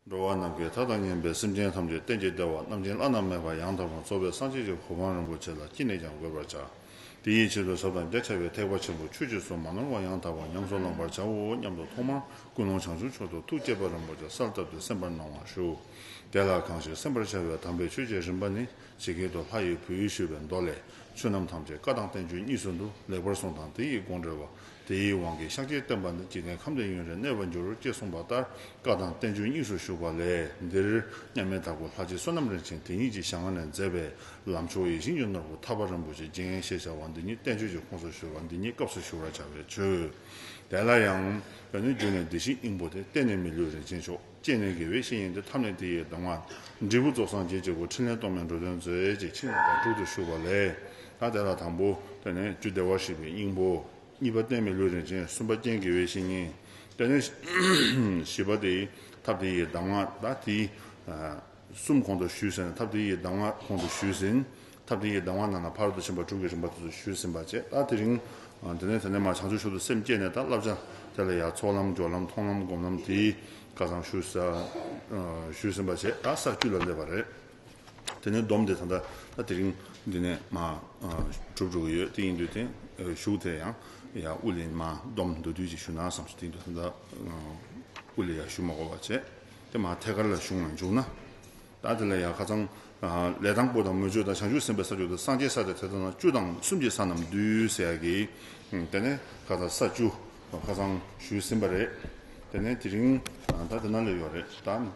འགྲོ་བ་རྣམས་ཀྱི་མཐའ་དང་གཉེན་པའི་སེམས་ཅན་ཐམས་ཅད་རྟེན་ཅིང་བདེ་བ་རྣམ་བྱིན་བརླ་ན་མེད་པ་ཡང་དག་པར་རྫོགས་པའི་སངས་རྒྱས་ཀྱི་གོ་འཕང་རིན་པོ་ཆེ་ལ་ཅི་ནས་ཀྱང་འགོད་པར་བྱ། དེ་ཡི་ཕྱིར་དུ་ཟབ་དང་རྒྱ་ཆེ་བའི་ཐེག་པ་ཆེན་པོ་ཆོས་ཀྱི་སོ་མ་ནོར་བ་ཡང་དག་པར་ཉམས་སུ་བླང་བར་བྱའོ་སྙམ་དུ་ཐོག་མར་ཀུན་སློང་བྱང་ཆུབ་མཆོག་ཏུ་ཐུགས་བསྐྱེད་པ་རིན་པོ་ཆེ་གསལ་བཏབ་སྟེ་སེམས་པར་གནང་བར་ཞུ། དེ་ལ་གང་ཞིག་སེམས་པར་འཆར་བའི་དམ་པའི་ཆོས་ཀྱི་རིམ་པ་ནི་ཇི་སྐད་དུ་ལྷ་ཡི་བུ་ཡིས་ཞུས་པའི་མདོ་ལས། ཆོས་རྣམས་ཐམས་ཅད་བཀའ་དང་བསྟན་བཅོས་གཉིས་སུ་འདུ་ལེགས་པར་གསུངས་དང་དེ་ཡི་དགོངས་འགྲེལ་བ་དེའི་དབང་གིས་ཤཱཀྱའི་བསྟན་པ་འདི་ཅི་ནས་ཁམས་འདི་ཡུན་རིང་གནས་པར་འགྱུར་ཅེས་གསུངས་པ་ལྟར་བཀའ་དང་བསྟན་བཅོས་གཉིས་སུ་བཞུགས་པ་ལས་འདིར་མཉམ་མེད་དྭགས་པོ་ལྷ་རྗེ་བསོད་ནམས་རིན་ཆེན་དེ་ཉིད་ཀྱིས་ཞང་བ་ནས་མཛད་པའི་ལམ་མཆོག་ཡིད་བཞིན་གྱི་ནོར་བུ་ཐར་པ་རིན་པོ་ཆེ་རྒྱན་ཞེས་བྱ་བ་འདི་ཉིད་བསྟན་བཅོས་ཀྱི་ཁོངས་སུ་བཞུགས་པ་འདི་ཉིད་སྐབས་སུ་ཞུ་བར་བྱ་བའི་ཚུལ། དེ་ལ་ཡང། བོད་ནི་རྒྱུད་ནས་འདི་བཞིན་སྙིང་པོ་སྟེ་གཏན་ནས་མི་ལུས་རིན་ཆེན་མཆོག། སྐྱེས་ནས་དགེ་བའི་བཤེས་ཡིན་ཏེ་ཐབས་ནི་དེ་ཡིས་གདམས་ངག། འབྲས་བུ་རྫོགས་སངས་རྒྱས་ཀྱི་སྒོ་ཕྲིན་ལས་སྟོང་པའི་འགྲོ་དོན་མཛོད་ཅེས་ཕྱི་ནང་དང་དྲུག་ཏུ་བཞུགས་པ་ལས། ད་དེ་ལ་དང་པོ་དེ་ནི་རྒྱུ་བདེ་བར་གཤེགས་པའི་སྙིང་པོ། གཉིས་པ་གཏན་མི་ལུས་རིན་ཆེན་གསུམ་པ་རྐྱེན་དགེ་བའི་བཤེས་གཉེན། དེ་ནས་བཞི་པ་དེ་ཡི་ཐབས་དེ་ཡིས་གདམས་ངག་དང་དེའི། གསུམ་གོང་དུ་ཞུས་ཟིན་ཐབས་དེ་ཡི་གདམས་ངག་གོང་དུ་ཞུས་ཟིན། ཐབས་དེ་ཡི་གདམས་ངག་རྣམས་ལ་ཕར་དུ་ཕྱིན་པ་དྲུག་གི་རིམ་པ་དེ་ཚོ་ཞུས་ཟིན་པ་བཅས་ལྟར་དེ་རིང། དེ་ནས་དེ་ནས་མར་བྱང་ཆུབ་ཤུགས་དུ་སེམས་བསྐྱེད་ནས་ད་བསླབ་བྱ་དེ་ལ་ཡང་ཚོགས་ལམ་སྦྱོར་ལམ་མཐོང་ལམ་སྒོམ་ལམ་དེ་ཡི་བཀའ་གསང་ཞུས་ཟིན་པ་བཅས་ལྟར་ས་བཅུ་ལ་སླེབས་པ་རེད། དེ་ནས་སྡོམ་དེ་ད་ལྟ་ད་དེ་རིང། འདི་ནས་མ། གྲུབ་འགྲོ་གི་ཡོད་དེ་ཡིན་དུས་དེ། བཞུགས་དེ་ཡང། དབུ་ལས་མ། སྡོམ་མདོ་དུས་ཀྱི་ཞུ་ན་བསམ་སོ་དེ་ཡིན་དུས་ད། དབུ་ལས་ཡང་ཞུ་མ་གོ་བ་བཅས། དེ་མ་ཐད་ཀར་ལ་གཞུང་ལ་འཇུག་ན། བདག་དེ་ལ་ཡང་ཁ་ཚང། ལས་དང་པོ་དང་མོས་སྤྱོད་དང་བྱང་ཆུབ་སེམས་དཔའི་ས་བཅུ་དང་སངས་རྒྱས་ས་ཏེ་དེ་དག་ན་བཅུ་དང་གསུམ་གྱི་ས་རྣམས་བསྡུས་ཟེར་ཡག་གི། དེ་ནས་ཁ་ད་ས་བཅུ། ཁ་ཚང། ཞུས་ཟིན་པ་རེད། དེ་ནས་དེ་རིང། ད་དེ་ན་ལས་ཡོད་རེད་ད།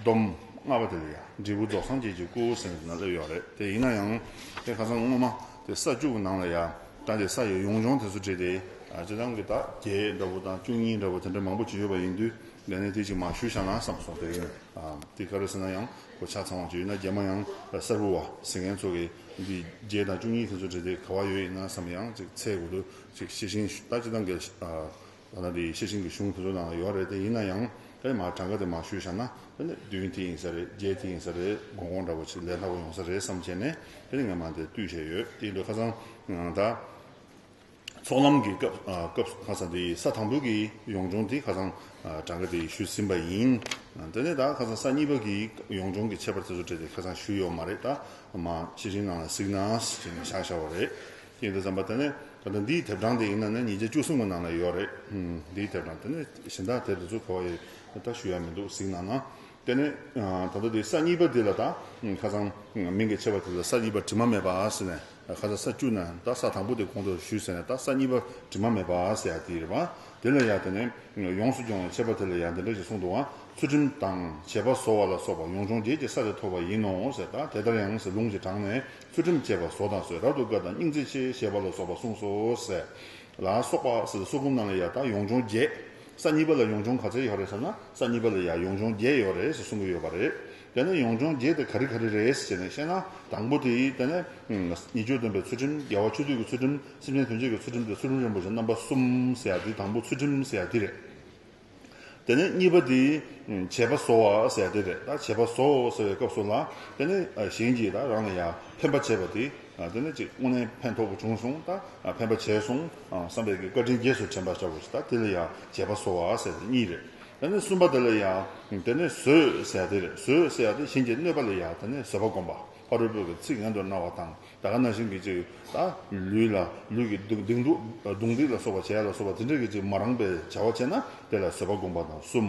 སྡོམ། ལྔ་པ་དེ་ལ་ཡང་འབྲས་བུ་རྫོགས་སངས་རྒྱས་ཀྱི་སྐུ་ཟེར་ནས་དེ་ན་སླེབས་ཡོད་རེད་དེ་ཡིན་ན་ཡང། དེ་ཁ་ཚང་སྔོན་མ་དེ་ས་བཅུ་གི་ནང་ལ་ཡང་ད་དེ་ས་ཡོད་ཡོངས་སྦྱོང་དེ་ཚོ་བྲིས་ཏེ། བྱེ་ཐང་གི་ད་བརྒྱད་འདྲ་བོ་དང་བཅུ་གཉིས་འདྲ་བོ་དེ་འདྲ་མང་པོ་བྱས་ཡོད་པ་ཡིན་དུས། ལས་གནས་དེ་ཅིག་མ་ཞུས་བྱ་ན་བསམ་སོང་དེ་ཡིན། དེ་ག་རེ་ཟེར་ན་ཡང་གོ་ཆ་ཚང་བ་ཅིག་ཡོད་ན་རྒྱ་མ་ཡང་གསར་བུ་བ་ཟེར་མཁན་ཚོ་གི་འདི་བརྒྱད་དང་བཅུ་གཉིས་དེ་ཚོ་འབྲི་དེ་ག་བ་ཡོད་ཡིན་ན་བསམ་ཡང་ཅིག་ཚའི་གོ་དུ་ཅིག་ཤེས་ཤིང་ད་ཅི་ད་འགལ་ཟླ་ན་དེ་ཤེས་ཤིང་གི་གཞུང་དེ་ཚོ་ནང་ལ་ཡོད་རེད་དེ་ཡིན་ན་ཡང་ཨེ་མ་གྲངས་ཀ་དེ་མ་ཞུས་བྱ་ན་དེ་ནི་བདུན་དེ་ཡིན་ས་རེད་བརྒྱད་དེ་ཡིན་ས་རེད་དགོང་དགོང་འདྲ་བ་ཅིག་ལས་སླ་བོ་ཡོང་ས་རེད་བསམ་བྱས་ནས་དེ་ནི་ངས་མ་དེ་བཏུས་བྱས་ཡོད་དེ་ལོས་ཁ་ཚང་ད། ཚོགས་ལམ་གྱི་སྐབས་ཁ་སང་དེ་ས་དང་པོ་གི་ཡོངས་སྦྱོང་དེ་ཁ་སང་གྲངས་ཀ་དེ་ཞུས་ཟིན་པ་ཡིན། དེ་ནས་ད་ཁ་སང་ས་གཉིས་པ་གི་ཡོངས་སྦྱོང་གི་ཁྱད་པར་དེ་ཚོ་དྲིས་ཏེ་ཁ་སང་ཞུས་ཡོད་མ་རེད་ད་མ་ཅི་རིང་ནང་ལ་གཟིགས་ན་ཞེས་ནས་བཞག་བཞག་བ་རེད། ཀྱེ་འདི་ཙམ་པ་དེ་ནས་ད་ལྟ་འདིའི་དེབ་གྲངས་དེ་ཡིན་ན་ནི་ཉིས་བརྒྱ་བཅུ་གསུམ་གི་ནང་ལ་ཡོད་རེད། འདིའི་དེབ་གྲངས་དེ་ནས་གཞན་དག་དེབ་དེ་ཚོ་གོ་བ་ཡོད་ད་ཞུ་ཡ་མི་འདུག་གཟིགས་ན་ན། དེ་ནས་ད་ལྟ་དེ་ས་གཉིས་པ་འདི་ལ་ད་ཁ་སང་མིང་གི་ཆེ་བ་དེ་ལ་ས་གཉིས་པ་དྲི་མ་མེད་པ་ཟེར་ནས་ཁ་སང་ས་བཅུ་ན་ད་ས་དང་པོ་དེ་གོང་དུ་ཞུས་ཟེར་ནས་ད་ས་གཉིས་པ་དྲི་མ་མེད་པ་ཟེར་ཡག་དེ་རེད་བ་དེ་ལ་ཡག་དེ་ནས་ཡོངས་སུ་སྦྱོང་བའི་ཆེ་བ་དེ་ལ་ཡག་འདི་འདྲ་ཞིག་གསུངས་འདུག་བ་ཚུལ་ཁྲིམས་དང་བྱེད་པ་བཟོ་བ་ལ་སོགས་པ་ཡོངས་སྦྱོང་བརྒྱད་ཀྱི་ས་རེ་ཐོབ་པ་ཡིན་ནོ་ཟེར་ད་དེ་ལྟར་ཡང་ཟེར་ལུང་གི་དྲངས་ནས་ཚུལ་ཁྲིམས་བཅས་པ་བཟོ་དང་བཟོད་རབ་ཏུ་དཀའ་དང་སྙིང་བརྩེ་ཆེ་ཞེས་པ་ལ་སོགས་པ་གསུངས་སོ་ཟེར་ལ་སོགས་པ་སོ་སོ་ཀུན་རྣམས་ལ་ཡང་དག་ཡོངས་སྦྱོང་བརྒྱད། ས་གཉིས་པ་ལ་ཡོངས་སྦྱོང་ག་ཚད་ཡོད་རེད་ཟེར་ན་ས་གཉིས་པ་ལ་ཡང་ཡོངས་སྦྱོང་བརྒྱད་ཡོད་རེད་ཟེར་གསུང་གི་ཡོད་པ་རེད། དེ་ནས་ཡོངས་སྦྱོང་བརྒྱད་དེ་ག་རི་ག་རི་རེད་ཟེར་ནས་བཤད་ན་དང་པོ་དེ་དེ་ནས། ཉིད་སྤྱོད་སྟོན་པའི་ཚུལ་ཁྲིམས་རྒྱལ་བ་ཆོས་སྡུད་ཀྱི་ཚུལ་ཁྲིམས་སེམས་ཅན་དོན་བྱེད་ཀྱི་ཚུལ་ཁྲིམས་དེ་ཚུལ་ཁྲིམས་རིན་པོ་ཆེ་རྣམ་པ་གསུམ་ཟེར་ཡ་དེ་དང་པོ་ཚུལ་ཁྲིམས་ཟེར་ཡ་དེ་རེད། དེ་ནས་གཉིས་པ་དེ། བྱེད་པ་བཟོ་བ་ཟེར་དེ་རེད། བྱེད་པ་བཟོ་ཟེར་བའི་སྐབས་སུ་ལ། དེ་ནི་གཞན་གྱིས་ད་རང་ལ་ཡང་ཕན་པ་བྱས་པ་དེ། དེ་ནི་ཅིག་དངོས་གནས་ཕན་ཐོགས་པོ་བྱུང་སོང་ད་ཕན་པ་བྱས་སོང་བསམ་པའི་བཀའ་དྲིན་རྗེས་སུ་དྲན་པར་བྱ་དགོས་ད་དེ་ལ་ཡང་བྱེད་པ་བཟོ་བ་ཟེར་དེ་གཉིས་རེད། དེ་ནས་གསུམ་པ་དེ་ལ་ཡང། དེ་ནི་བཟོས་ཟེར་དེ་རེད་བཟོས་ཟེར་དེ་གཞན་གྱིས་གནོད་པ་ལ་ཡང་དེ་ནི་བཟོད་པ་བསྒོམ་པ། ཕ་རོལ་པོས་ཀྱི་ཚིག་ཡང་དུ་རྣ་བ་དང་ད་ག་ན་བཞིན་གྱིས་ཅིག། ད་ལུས་ལ་ལུས་ཀྱི་སྡུག་སྡིག་འདུག་སྡུག་འདིག་ལ་སོགས་པ་བྱས་ལ་སོགས་པ་དེ་འདྲ་གྱིས་ཅིག་མ་རངས་པའི་བྱ་བ་བྱས་ན་དེ་ལ་བཟོད་པ་བསྒོམ་པ་དང་གསུམ།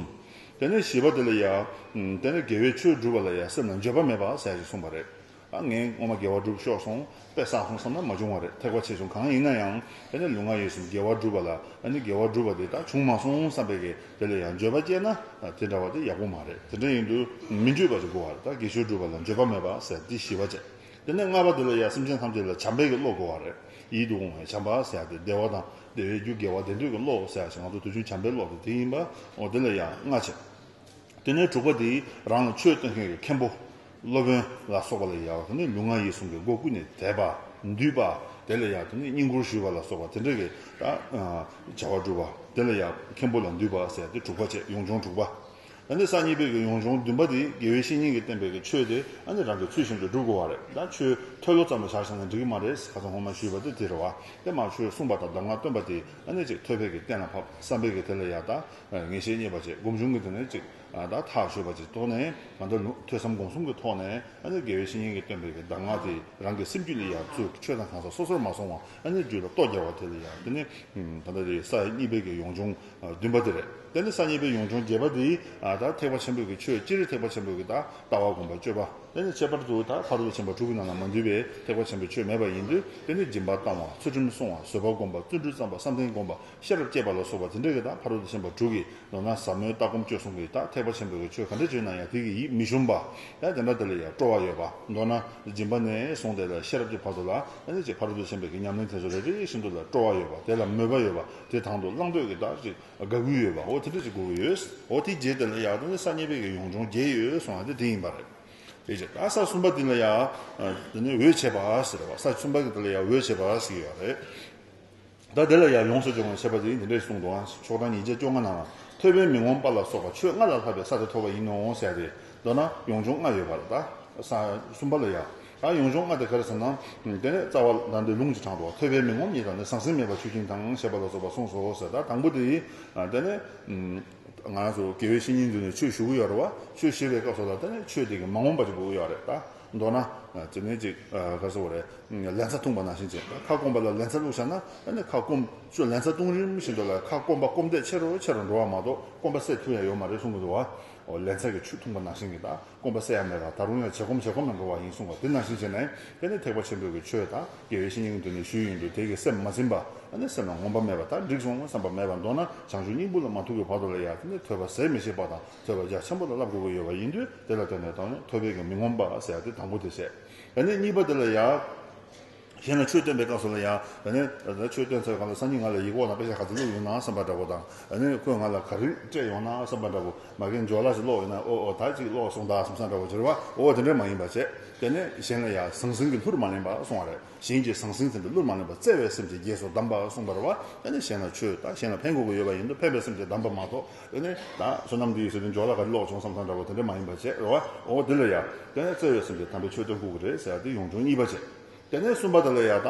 དེ་ནས་བཞི་པ་དེ་ལ་ཡང། དེ་ནས་དགེ་བའི་ཆོས་བསྒྲུབ་པ་ལ་ཡང་སེམས་ལ་འགྱོད་པ་མེད་པ་ཟད་ཅིག་གསུངས་པ་རེད། ད་ངས་སྔོན་མ་དགེ་བ་བསྒྲུབ་ཤོར་སོང་པས་བསགས་སོང་བསམ་ན་མ་བྱུང་བ་རེད་ཐེག་པ་ཆེ་ཆུང་གང་ཡིན་ན་ཡང་དེ་ནས་ལུས་ངག་ཡིད་གསུམ་དགེ་བ་བསྒྲུབ་པ་ལ་ནི་དགེ་བ་བསྒྲུབ་པ་དེ་དག་བྱུང་མ་སོང་བསམ་པས་ཀྱི། དེ་ལ་ཡང་འགྱོད་པ་སྐྱེས་ན་དེ་འདྲ་བ་དེ་ཡག་པོ་མ་རེད་དེ་འདྲ་ཡིན་དུས་མི་འགྱོད་པ་ཅིག་དགོས་བ་རེད་ད་གེ་ཤུལ་སྒྲུབ་པ་ལ་འགྱོད་པ་མེད་པ་ཟེར་དེ་ཞི་བ་བྱས་དེ་ནས་ལྔ་པ་དེ་ལ་ཡང་སེམས་ཅན་ཐམས་ཅད་ལ་བྱམས་པའི་གི་བློ་དགོས་བ་རེད་ཡིད་དུ་འོང་བའི་བྱམས་པ་ཟེར་དེ་བདེ་བ་དང་བདེ་བའི་རྒྱུ་དགེ་བ་བདེ་འདོད་གི་བློ་ཟེར་ཞེས་ང་ཚོ་དུས་ཆུང་བྱམས་པའི་བློ་དེ་དེ་ཡིན་པའོ་དེ་ལ་ཡང་ལྔ་བྱས་དེ་ནས་དྲུག་པ་དེ་རང་ལ་ཆོས་སྟོན་མཁན་གི་མཁན་པོ། སློབ་དཔོན་ལ་སོགས་པ་ལ་ཡང་དེ་ནི་ལུས་ངག་ཡིད་གསུམ་གྱི་སྒོ་ཀུན་ནས་དད་པ། འདུས་པ། དེ་ལ་ཡང་དེ་ནི་བསྙེན་བཀུར་ཞུས་པ་ལ་སོགས་པ་དེ་འདྲ་གི་བྱ་བ་སྒྲུབ་པ། དེ་ལ་ཡང་མཁན་པོ་ལ་འདུས་པ་ཟེར་ཏེ་དྲུག་པ་བཅས་ཡོངས་སྦྱོང་དྲུག་པ། ད་ནི་སང་ཉིན་པའི་གི་ཡོངས་སྦྱོང་བདུན་པ་འདི་དགེ་བའི་བཤེས་གཉེན་གྱི་བསྟན་པའི་གི་ཆོས་དེ་ཨ་ནི་རང་གི་ཚུལ་བཞིན་དུ་སྒྲུབ་དགོས་བ་རེད་ད་ཆོས་ཐོས་ལོ་ཙམ་ལ་བཞག་ཤེས་ན་འགྲིག་གི་མ་རེད་ག་ཚོད་ཧོ་མ་ཞུས་པ་དེ་དེ་རེད་བ་དེ་མ་ཆོས་གསུངས་པ་དང་གདམས་ངག་སྟོན་པ་དེ་ཨ་ནི་ཅིག་ཐོས་པས་གི་གཏན་ལ་ཕབ་བསམ་པས་གི་དེ་ལ་ཡང་ད་ངེས་ཤེས་རྙེད་པ་བཅས་སྒོམ་བྱུང་གི་དེ་ནི་ཅིག་ད་ཐག་ཆོད་པ་ཅིག་རྟོགས་ནས་ང་འདོད་ནུབ་ཐོས་བསམ་སྒོམ་གསུམ་གྱི་ཐོག་ནས་ཨ་ནེ་དགེ་བའི་བཤེས་གཉེན་གྱིས་སྟོན་པའི་གདམས་ངག་དེ་རང་གི་སེམས་རྒྱུད་ལས་ཡར་ཚུར་ཆོས་དང་གང་ཟག་སོ་སོར་མ་སོང་བར་ཨ་ནེའི་རྒྱུད་ལ་རྟོགས་རྒྱ་བ་དེ་ལས་ཡར་དེ་ནི་ད་ལྟ་དེ་ས་གཉིས་པའི་གི་ཡོངས་སྦྱོང་བདུན་པ་དེ་རེད་དེ་ནི་ས་གཉིས་པའི་ཡོངས་སྦྱོང་བརྒྱད་པ་དེ་ད་ཐེག་པ་ཆེན་པོའི་གི་ཆོས་སྤྱིར་ཐེག་པ་ཆེན་པོའི་གི་ད་ལྟ་བ་སྒོམ་པ་སྤྱོད་པ་དེ་ནི་ཁྱད་པར་དུ་ད་ཕ་རོལ་ཏུ་ཕྱིན་པ་དྲུག་གི་ནང་ན་མ་འདུས་པའི་ཐེག་པ་ཆེན་པོའི་ཆོས་མེད་པ་ཡིན་དུས་དེ་ནི་སྦྱིན་པ་བཏང་བ་ཚུལ་ཁྲིམས་བསྲུང་བ་བཟོད་པ་སྒོམ་པ་བརྩོན་འགྲུས་བརྩམས་པ་བསམ་གཏན་སྒོམ་པ་ཤེས་རབ་བསྐྱེད་པ་ལ་སོགས་པ་དེ་འདྲ་གི་དག་ཕ་རོལ་ཏུ་ཕྱིན་པ་དྲུག་གི་ལོ་ན་ཟབ་མོའི་ལྟ་སྒོམ་སྤྱོད་གསུམ་གྱི་དག་ཐེག་པ་ཆེན་པོ་གི་ཆོས་ག་འདྲ་བརྗོད་ན་ཡང་དེ་གི་ཡིད་མི་ཞུམ་པ། དེ་འདྲ་དེ་ལ་ཡང་སྤྲོ་བ་ཡོད་པ། མདོར་ན། སྦྱིན་པ་ནས་བཟུང་སྟེ་ལ་ཤེས་རབ་ཀྱི་བར་དུ་ལ། ཨེ་ཙི་ཕ་རོལ་ཏུ་ཕྱིན་པའི་གི་ཉམས་ལེན་དེ་ཚོ་རེ་རེ་བཞིན་དུ་ལ་སྤྲོ་བ་ཡོད་པ་དེ་ལ་མོས་པ་ཡོད་པ་དེ་དང་དུ་བླང་འདོད་གི་དག་ཅིག་དགའ་གུས་ཡོད་པའོ་དེ་འདྲ་ཅིག་དགོས་ཀྱི་ཡོད། འོ་དེའི་རྗེས་དེ་ལ་ཡང་དག་ནི་ས་གཉིས་པའི་གི་ཡོངས་སྦྱོང་བརྒྱད་ཡོད་གསུང་བ་དེ་དེ་ཡིན་པ་རེད། དེའི་རྗེས་དག་ས་གསུམ་པ་དེ་ལ་ཡང། འོད་བྱེད་པ་ཟེར་བ་ས་གསུམ་པ་གི་དེ་ལ་ཡང་འོད་བྱེད་པ་ཞིག་ཡོད་རེད། བདག་དེ་ལ་ཡང་ཡོངས་སུ་སྦྱོང་བར་བྱེད་པ་དེ་ཡིན་འདི་འདྲའི་གསུང་དུའང་ཕྱོགས་གྲངས་ཉིས་བརྒྱ་བཅོ་ལྔ་ན་ལ་ཐོད་པའི་མི་ངོམས་པ་ལ་སོགས་པ་ཆོས་ལྔ་ལ་ལྷག་པའི་ས་དེ་ཐོབ་པ་ཡིན་ནོ་ཟེར་ཏེ། མདོར་ན་ཡོངས་སྦྱོང་ལྔ་ཡོད་པར་གདའ། གསུམ་པ་ལ་ཡང། ཡོངས་སྦྱོང་ལྔ་དེ་གར་ཟིན་ན། དེ་ནས་རྩ་བ་ལ་འདི་ལུང་གཅིག་དྲངས་ཏོ། ཐོད་པའི་མི་ངོམས་གཉིས་དང་ནི་ཟང་ཟིང་མེད་པར་ཆུ་ཁྱིམ་དང་ཞེས་པ་ལ་སོགས་པ་གསུངས་སོ་ཟེར་ད་དང་པོ་དེ་ཡིན། དེ་ནས། ང་ལ་སོགས་དགེ་བའི་བཤེས་གཉེན་འདུས་ནས་ཆོས་ཞུ་གི་ཡོད་རེད་བ། ཆོས་བཤད་པའི་སྐབས་སོགས་ལ་བལྟས་ནས་ཆོས་དེ་གི་མ་ངོམས་པ་ཅིག་དགོས་ཀྱི་ཡོད་རེད་ད། མདོར་ན། དེ་ནས་ཅིག་ག་ཟེར་བ་རེད། ལན་ཚྭ་འཐུངས་པ་ནང་བཞིན་བྱས། ཁ་སྐོམ་པ་ལ་ལན་ཚྭ་བླུགས་བཞག་ན། ཁ་སྐོམ། ཅོ་ལན་ཚྭ་བཏུང་རིམ་བཞིན་དུ་ལ་ཁ་སྐོམ་པ་སྐོམ་དད་ཆེ་རུ་ཆེ་རུ་འགྲོ་བ་མ་གཏོགས་སྐོམ་པ་སད་ཐུབ་ཡ་ཡོད་མ་རེད་གསུང་གི་འདུག་བ། ལན་ཚྭ་གི་ཆུ་འཐུངས་པ་ནང་བཞིན་གྱི་ད་སྐོམ་པ་སད་ཡ་མེད་པ་ད་རུང་ཡང་ཇེ་སྐོམ་ཇེ་སྐོམ་ལ་འགྲོ་བ་ཡིན་གསུང་བ་དེ་ནང་བཞིན་བྱས་ནས་དེ་ནས་ཐེག་པ་ཆེན་པོའི་གི་ཆོས་དང་དགེ་བའི་བཤེས་གཉེན་དུ་ནས་ཞུས་ཡིན་དུས་དེ་གི་སེམས་མ་ཚིམ་པ། སེམས་ལ་ངོམ་པ་མེད་པ་ད་འགྲིག་སོང་བསམ་པ་མེད་པ་མདོར་ན་བྱང་ཆུབ་སྙིང་པོ་ལ་མ་ཐུག་གི་བར་དུ་ལ་ཡང་དེ་ནས་ཐོས་པ་ཟད་མི་ཤེས་པ་དང། ཟེར་བ་རྒྱ་ཆེན་པོ་ལ་བསླབ་དགོས་ཀྱི་ཡོད་པ་ཡིན་དུས་དེ་ལ་བརྟེན་ནས་དང་ཡང་ཐོད་པའི་གན་མི་ངོམ་པ་ཟེར་ཏེ་དང་པོ་དེ་བཤད། ད་ནི་གཉིས་པ་དེ་ལ་ཡང། གཞན་ལ་ཆོས་སྟོན་པའི་སྐབས་སུ་ལ་ཡང། ད་ནི། ད་ཆོས་སྟོན་ཚར་གང་ལ་སང་ཉིན་ང་ལ་ཡིག་འོག་ན་དཔེ་ཆ་ག་ཚོད་བླུགས་ཡོང་ནའང་བསམ་པ་འདྲ་བོ་དང། ད་ནི་ཁོས་ང་ལ་ག་རེ་སྤྲད་ཡོང་ནའང་བསམ་པ་འདྲ་བོ། མ་གན་ཇོ་ལ་ཞིག་ཀློག་ཡོང་ན་ཨོ་ཨོ་ད་ཅིག་ཀློག་སོང་ད་བསམ་བསམ་འདྲ་བོ་ཟེར་བ་འོ་དེ་འདྲ་མ་ཡིན་པ་བྱས། དེ་ནས་གཞན་ལ་ཡང་ཟང་ཟིང་གིས་ལྷུར་མ་ལེན་པར་སོང་བ་རེད་གཞན་གྱིས་ཟང་ཟིང་ཟིན་པའི་ལྷུར་མ་ལེན་པར་བརྩེ་བའི་སེམས་ཀྱིས་རྒྱས་སུ་བསྡམས་པར་སོང་བར་བ་ད་ནི་གཞན་ལ་ཆོས་དང་གཞན་ལ་ཕན་དགོས་ཀྱི་ཡོད་པ་ཡིན་དུས་ཕན་པའི་སེམས་ཀྱིས་བསྡམས་པ་མ་གཏོགས། དེ་ནས་ད་བསོད་ནམས་འདི་ཡི་ཟེར་དུས་འཇོག་ལ་ག་རེ་ལོག་བྱུང་བསམ་ཚང་འདྲ་བོ་དེ་འདྲ་མ་ཡིན་པ་བྱས་རོ་བ་འོ་འོ་འདི་ལ་ཡ། དེ་ནས་བརྩེ་བས་སེམས་ཀྱི་དམ་པའི་ཆོས་སྟོན་ཁུག་གི་རེད་ཟེར་དེ་ཡོང་བྱུང་གཉིས་པ་བྱས། དེ་ནས་གསུམ་པ་དེ་ལ་ཡ་ད།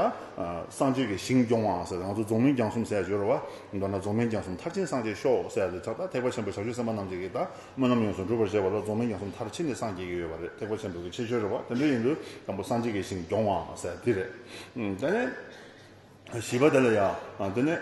སངས་རྒྱས་ཀྱི་ཞིང་སྐྱོང་བ་ཟེར་ང་ཚོ་རྫོང་མིང་རྒྱང་གསུམ་ཟེར་བྱོས་རོ་བ། མདོར་ན་རྫོང་མིང་རྒྱང་གསུམ་མཐར་ཕྱིན་སངས་རྒྱས་ཤོག་ཟེར་དེ་ད་ད་ཐེག་པ་ཆེན་པོ་ཞབས་ཞུ་སེམས་དཔའ་རྣམས་ཀྱིས་ཀྱིས་ད་སྨོན་ལམ་ཡོངས་སུ་འགྲུབ་པར་བྱས་པ་ལ་རྫོང་མིང་རྒྱང་གསུམ་མཐར་ཕྱིན་ནས་སངས་རྒྱས་ཀྱི་ཡོད་པ་རེད་ཐེག་པ་ཆེན་པོ་གི་ཆེ་ཤོས་རེད་བ་དེ་འདྲ་ཡིན་དུས་དང་པོ་སངས་རྒྱས་ཀྱི་ཞིང་སྐྱོང་བ་ཟེར་དེ་རེད། དེ་ནས། བཞི་པ་དེ་ལ་ཡང་འདི་ནི།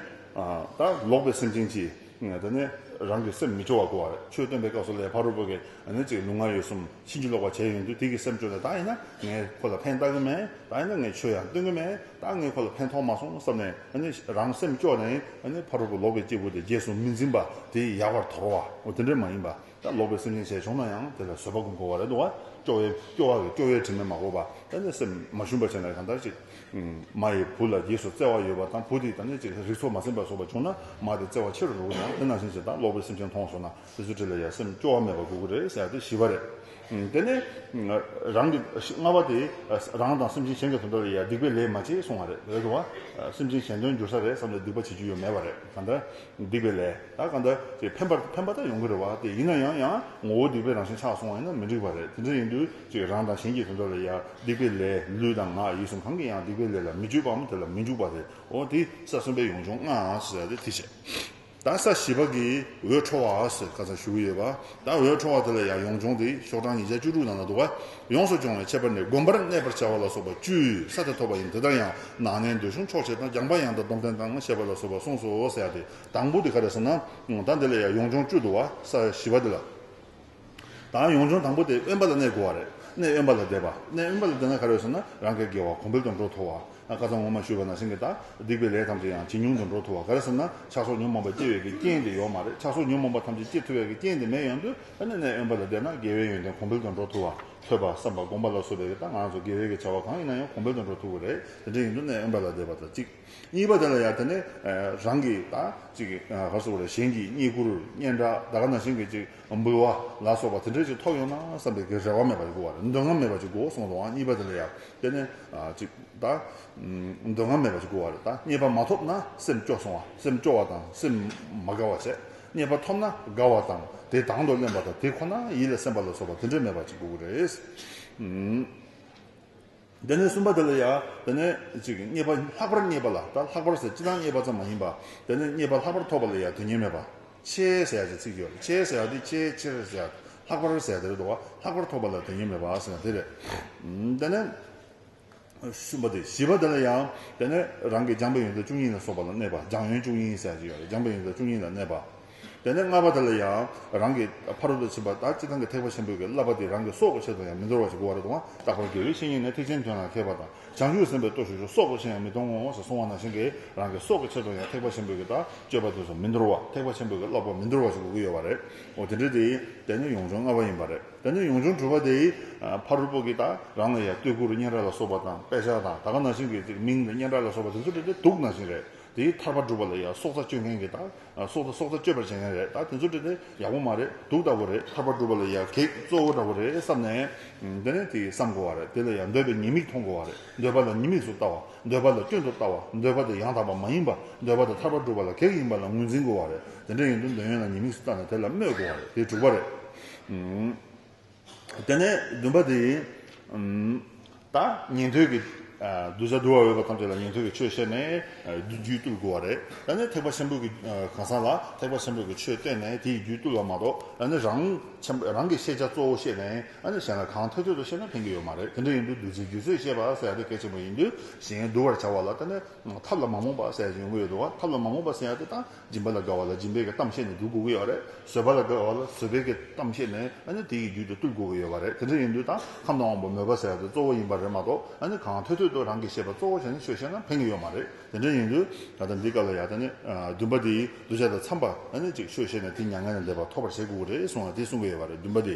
ད་ལོག་པའི་སེམས་ཅན་གྱིས་འདི་ནི། རང་གི་སེམས་མི་སྤྱོ་བར་གོ་བར་ཆོས་སྟོན་པའི་སྐབས་སུ་ལས་ཕ་རོལ་པོ་གིས་ནི་གཅིག་ལུས་ངག་ཡིད་གསུམ་ཕྱིན་ཅི་ལོག་པར་བྱས་ཡོང་དུས་དེ་གིས་སེམས་སྤྱོ་ནས་ད་ཡིན་ན་ངས་ཁོ་ལ་ཕན་བཏགས་ཀྱི་མེད། ད་ཡིན་ན་ངས་ཆོས་ཡང་སྟོན་གྱི་མེད། ད་ངས་ཁོ་ལ་ཕན་ཐོགས་མ་སོང་བསམ་ནས་ནི་རང་སེམས་སྐྱོ་ནས་ནི་ཕ་རོལ་པོ་ལོག་པའི་སྐྱེས་བུ་དེ་རྗེས་སུ་མི་འཛིན་པ་དེ་ཡག་པར་དོར་བའོ་དེ་འདྲ་མ་ཡིན་པ། ལོག་པའི་སེམས་ཅན་བྱས་བྱུང་ན་ཡང་དེ་ལ་བཟོད་པ་ཀུན་གོ་བ་རེ་དོ། སྐྱོ་བའི་སྐྱོ་བ་གི་སྐྱོ་བའི་དྲི་མས་མ་གོ་བ་ད་ནི་སེམས་མ་ཞུམ་པ་ཅན་ལ་གང་ལྟར་ཅིག། མ་ཡི་བུ་ལ་རྗེས་སུ་བརྩེ་བ་ཡོད་པ་དང་བུ་དེས་ད་ནི་ཅིག་རིགས་ཚོགས་མ་ཟིན་པར་སོགས་པ་བྱུང་ན་མ་དེ་བརྩེ་བ་ཆེ་རུ་འགྲོ་གི་ཡང་དེ་ནང་བཞིན་ཅིག་དང་ལོག་པའི་སེམས་ཅན་མཐོང་སོང་ན་དེ་ཚོའི་ཁྲིད་ལ་ཡང་སེམས་སྐྱོ་བ་མེད་པར་གོ་གི་རེད་ཟེར་ཏེ་ཞི་བ་རེད། དེ་ནས་རང་གི་ལྔ་བ་དེ་རང་དང་སེམས་ཅན་གཞན་གྱི་དོན་དག་ལ་ཡང་སྡིག་པའི་ལས་མ་བྱེད་གསུང་བ་རེད་དོ། སེམས་ཅན་གཞན་དོན་འགྱུར་ས་རེད་བསམ་ནས་སྡིག་པ་བྱེད་རྒྱུ་ཡོད་མེད་བ་རེད་གང་ལྟར་སྡིག་པའི་ལས་ད་ག་འདྲ་ཅེས་ཕན་པར་ཕན་པ་ལྟར་ཡོང་གི་རེད་བ་དེ་ཡིན་ན་ཡང་ཡང་ངོ་བོ་སྡིག་པའི་རང་བཞིན་ཆགས་སོང་བ་ཡིན་ན་མི་འགྲིག་པ་རེད་དེ་འདྲ་ཡིན་དུས་ཅིག་རང་དང་གཞན་གྱི་དོན་དག་ལ་ཡང་སྡིག་པའི་ལས་ལུས་དང་ངག་ཡིད་གསུམ་གང་གིས་ཡང་སྡིག་པའི་ལས་ལ་མི་སྤྱོད་པའམ་དེ་ལ་མི་འཇུག་པ་རེད་འོ་དེ་ས་གསུམ་པའི་ཡོངས་སྦྱོང་ལྔའང་ཟེར་ཏེ་དེ་བྱས་ད་ས་བཞི་པ་གིས་འོད་འཕྲོ་བ་ཟེར་ག་ཚ་ཞུ་གི་ཡོད་བ། ཟླ་འོད་འཕྲོ་བ་དེ་ལ་ཡང་ཡོངས་སྦྱོང་དེ་ཤོག་གྲངས་ཉིས་བརྒྱ་བཅུ་དྲུག་ནང་ན་འདུག་པ། ཡོངས་སུ་སྦྱོང་བའི་ཁྱད་པར་ནི་བསྒོམ་པར་གནས་པར་བྱ་བ་ལ་སོགས་པ་བཅུའི་ས་དེ་ཐོབ་པ་ཡིན་དེ་ལྟར་ཡང་ནང་ནས་འདོད་གཞུང་འཕྲོག་བྱེད་དང་རྒྱངས་པ་ཡང་དང་སྡོམ་ལྡན་དང་ཞེས་པ་ལ་སོགས་པ་གསུངས་སོ་ཟེར་བ་དེ་དང་པོ་དེ་ག་རེ་ཟེར་ན། ད་འདི་ལ་ཡང་ཡོངས་སྦྱོང་བཅུ་འདུག་བ་ས་བཞི་བ་དེ་ལ། ད་ཡོངས་སྦྱོང་དང་པོ་དེ་དབེན་པ་ལ་གནས་དགོས་བ་རེད་གནས་དབེན་པ་ལ་བསྡད་པ་གནས་དབེན་པ་ལ་བསྡད་ན་ག་རེ་ཟེར་ན་རང་གི་དགེ་བ་གོང་འཕེལ་དུ་འགྲོ་ཐོ་བ། བཀའ་གཙང་ངོ་མ་ཞུས་པ་ན་སེང་གེ་དག་སྡིག་པའི་ལས་ཐམས་ཅད་ཡང་ཇི་མྱོང་དུ་འགྲོ་ཐུབ་བ་ག་རེ་ཟེར་ན་ཆགས་སོགས་ཉོན་མོངས་པ་སྐྱེ་བའི་གི་རྐྱེན་དེ་ཡོག་མ་རེད་ཆགས་སོགས་ཉོན་མོངས་པ་ཐམས་ཅད་སྐྱེ་ཐུབ་བའི་གི་རྐྱེན་དེ་མེད་ཡོང་དུས་ཨ་ནེ་ནས་དབེན་པ་ལ་བསྡད་ན་དགེ་བའི་ཡོན་ཏན་གོང་འཕེལ་དུ་འགྲོ་ཐུབ་བ་ཐོས་པ་བསམ་པ་སྒོམ་པ་ལ་སོགས་པའི་གི་ལྟ་ང་ཚོ་དགེ་བའི་གི་བྱ་བ་གང་ཡིན་ན་ཡང་གོང་འཕེལ་དུ་འགྲོ་ཐུབ་བོ་རེད་དེ་འདྲ་ཡིན་དུས་ནས་དབེན་པ་ལ་བསྡད་པ་དང་གཅིག་གཉིས་པ་དེ་ལ་ཡང་དེ་ནས་རང་གི་དང་གཅིག་ག་རེ་སོགས་པ་རེད་གཞན་གྱིས་རྙེད་བཀུར་སྙན་གྲགས་ད་ག་ན་སེང་གེ་ཅིག། འབུལ་བ་ལ་སོགས་པ་དེ་འདྲས་ཀྱི་ཐོག་ཡོང་ན་བསམ་པའི་རེ་བ་མེད་པ་ཞིག་གོ། འདོད་རྔམ་མེད་པ་ཅིག་གོ་སོང་དུའང་གཉིས་པ་དེ་ལ་ཡང་དཔེར་ན། ཅིག་དང། འདོད་རྔམ་མེད་པ་ཅིག་གོ་བ་དང་གཉིས་པ་མ་ཐོབ་ན་སེམས་སྐྱོ་སོང་བ་སེམས་སྐྱོ་བ་དང་སེམས་མ་དགའ་བ་བྱེད། གཉིས་པ་ཐོབ་ན་དགའ་བ་དང་དེ་དང་དུ་གླེང་བ་དང་དེ་ཁོ་ན་ཡིད་ལ་སེམས་པ་ལ་སོགས་པ་དེ་འདྲས་མེད་པ་ཅིག་གོ་བ་རེད། དེ་ནས་གསུམ་པ་དེ་ལ་ཡང་དེ་ནས་ཅིག་རྙེད་པ་ལྷག་པར་རྙེད་པ་ལ་ད་ལྷག་པར་ཟེར་ཅི་སྟང་རྙེད་པ་ཙམ་མ་ཡིན་པ་དེ་ནས་རྙེད་པ་ལྷག་པར་ཐོབ་པ་ལ་ཡང་དུས་ངེས་མེད་པ་ཆེ་ཟེར་ཡང་ཅིག་ཚིག་ཡོད་ཆེ་ཟེར་ཡང་དེ་ཆེ་ཆེར་ཟེར་ཡང་ལྷག་པར་ཟེར་དེར་འགྲོ་བ་ལྷག་པར་ཐོབ་པ་ལ་དུས་ངེས་མེད་པ་ཟེར་ན་དེ་རེད། དེ་ནས་གསུམ་པ་དེ་བཞི་པ་དེ་ལ་ཡང་དེ་ནས་རང་གི་སྦྱངས་པའི་ཡོན་ཏན་བཅུ་གཉིས་ལ་སོགས་པ་ལ་གནས་པ་སྦྱངས་ཡོན་བཅུ་གཉིས་ཟེར་ཡང་ཅིག་ཡོད་རེད་སྦྱངས་པའི་ཡོན་ཏན་བཅུ་གཉིས་ལ་གནས་པ། དེ་ནས་ལྔ་པ་དེ་ལ་ཡང་རང་གི་ཕ་རོལ་ཏུ་ཕྱིན་པ་དག་ཅི་ཐང་གི་ཐེག་པ་ཆེན་པོས་ཀྱི་བསླབ་པ་འདི་རང་གི་སྲོག་གི་ཆེད་དུ་ཡང་མི་འདོར་བར་ཅི་དགོས་བ་རེ་དོང་བརྟག་པར་འགྱུར་རིགས་ཤིང་ཡིན་ནས་ཐེག་ཆེན་དོན་ལ་མཁས་པ་དང་བྱང་ཆུབ་སེམས་དཔའི་སྟོབས་ཤིག་ཆུ་སོགས་པོ་ཆེ་ཡང་མི་གཏོང་ངོ་ཞེས་གསུང་བ་ནང་བཞིན་གྱི་རང་གི་སྲོག་གི་ཆེད་དུ་ཡང་ཐེག་པ་ཆེན་པོས་ཀྱི་དག་སྤྱོད་པ་དེ་སོགས་མི་འདོར་བ་ཐེག་པ་ཆེན་པོས་ཀྱི་བསླབ་པ་མི་འདོར་བ་ཞིག་དགོས་ཀྱི་ཡོད་བ་རེད་འོ་དེ་འདྲའི་དེའི་དེ་ནི་ཡོངས་སྦྱོང་ལྔ་བ་ཡིན་པ་རེད་དེ་ནས་ཡོངས་སྦྱོང་དྲུག་པ་དེའི་ཕ་རོལ་པོ་ཀྱི་དག་རང་ལ་ཡང་སྟོད་གུར་སྙན་གྲགས་ལ་སོགས་པ་དང་དཔེ་ཆ་དང་ད་ག་ནང་བཞིན་གྱི་ཅིག་མིང་དང་སྙན་གྲགས་ལ་སོགས་པ་དེ་ཚོ་དེ་དེ་སྡུག་ནང་བཞིན་རེད། དེའི་ཐར་པ་སྒྲུབ་པ་ལ་ཡང་སྲོག་རྩ་གཅོད་མཁན་གྱི་དང། སྲོག་རྩ་སྲོག་རྩ་གཅོད་པར་བྱེད་མཁན་རེད་ད་དེ་ཚོ་དྲིས་ནས་ཡག་པོ་མ་རེད་དུག་ལྟ་བུ་རེད་ཐར་པ་སྒྲུབ་པ་ལ་ཡང་གེགས་གཙོ་བོ་འདྲ་བོ་རེད་བསམ་ནས། དེ་ནས་དེ་བསམ་དགོ་བ་རེད་དེ་ལ་ཡང་འདོད་པའི་ཉེས་དམིགས་མཐོང་དགོ་བ་རེད་འདོད་པ་ལ་ཉེས་དམིགས་སུ་ལྟ་བ་འདོད་པ་ལ་སྐྱོན་དུ་ལྟ་བ་འདོད་པ་དེ་ཡང་དག་པ་མ་ཡིན་པ་འདོད་པ་དེ་ཐར་པ་སྒྲུབ་པ་ལ་གེགས་ཡིན་པ་ལ་ངོས་འཛིན་དགོ་བ་རེད་དེ་འདྲ་ཡིན་དུ་འདོད་ཡོན་ལ་ཉེས་དམིགས་སུ་ལྟ་ནས་དེ་ལ་སྨོད་དགོ་བ་རེད་དེ་དྲུག་པ་རེད། དེ་ནས་བདུན་པ་འདི་ཡིན། ད་ཉན་ཐོས་ཀྱི་གདུལ་བྱ་འདུལ་བ་འོས་པ་ཐམས་ཅད་ལ་ཉན་ཐོས་ཀྱི་ཆོས་བཤད་ནས་རྒྱུད་བཏུལ་དགོས་པ་རེད། ད་ནི་ཐེག་པ་ཆེན་པོ་གི་གང་ཟག་ལ་ཐེག་པ་ཆེན་པོ་གི་ཆོས་བསྟན་ནས་དེ་ཡི་རྒྱུད་བཏུལ་བ་མ་གཏོགས་ནི་རང་རང་གི་ཤེས་བྱ་གཙོ་བོ་བཤད་ནས་གཞན་ལ་གང་ཐོས་ཐོས་དུ་བཤད་ན་ཕན་གྱི་ཡོད་མ་རེད་དེ་འདྲ་ཡིན་དུས་བདུད་རྩིའི་རྒྱུད་ཚོད་བཤད་པ་ཟེར་ཡ་དེ་གལ་ཆེན་པོ་ཡིན་དུས་གཞན་འདུལ་བར་བྱ་བ་ལ་ཐབས་ལ་མ་རྨོངས་པ་ཟེར་ཡ་ཡོང་གི་ཡོད་འདུག་བ་ཐབས་ལ་མ་རྨོངས་པ་ཟེར་ཡ་དེ་ད་སྦྱིན་པ་ལ་དགའ་བ་ལ་སྦྱིན་པའི་གཏམ་བཤད་ནས་འདུལ་དགོས་ཀྱི་ཡོད་རེད། བཟོད་པ་ལ་དགའ་བ་ལ་བཟོད་པའི་གཏམ་བཤད་ནས་ཨ་ནི་དེ་ཡི་རྒྱུད་དུ་བཏུལ་དགོས་ཀྱི་ཡོད་པ་རེད། དེ་འདྲ་ཡིན་དུས་ད་ཁམས་ན་དབང་པོ་མོས་པ་ཟེར་བ་དེ་གཙོ་བོ་ཡིན་པ་རེད་མ་གཏོགས་ཨ་ནི་གང་ཐོད་ཐོད་དུ་རང་གིས་ཤེས་པ་གཙོ་བོ་བྱས་ནས་ཆོས་བཤད་ན་ཕན་གྱི་ཡོད་མ་རེད། དེ་འདྲ་ཡིན་དུས་ད་ལྟ་འདི་ག་ལ་ཡག་ད་ནི་འདུན་པ་དེའི་གདུལ་བྱ་དང་འཚམས་པ་ཨ་ནི་ཅིག་ཤོས་བཤད་ནས་དེ་མྱ་ངན་ལས་འདས་པ་ཐོབ་པར་བྱེད་དགོས་ཀྱི་རེད་གསུངས་ལ་དེ་གསུང་གི་ཡོད་པ་རེད་འདུན་པ་དེ།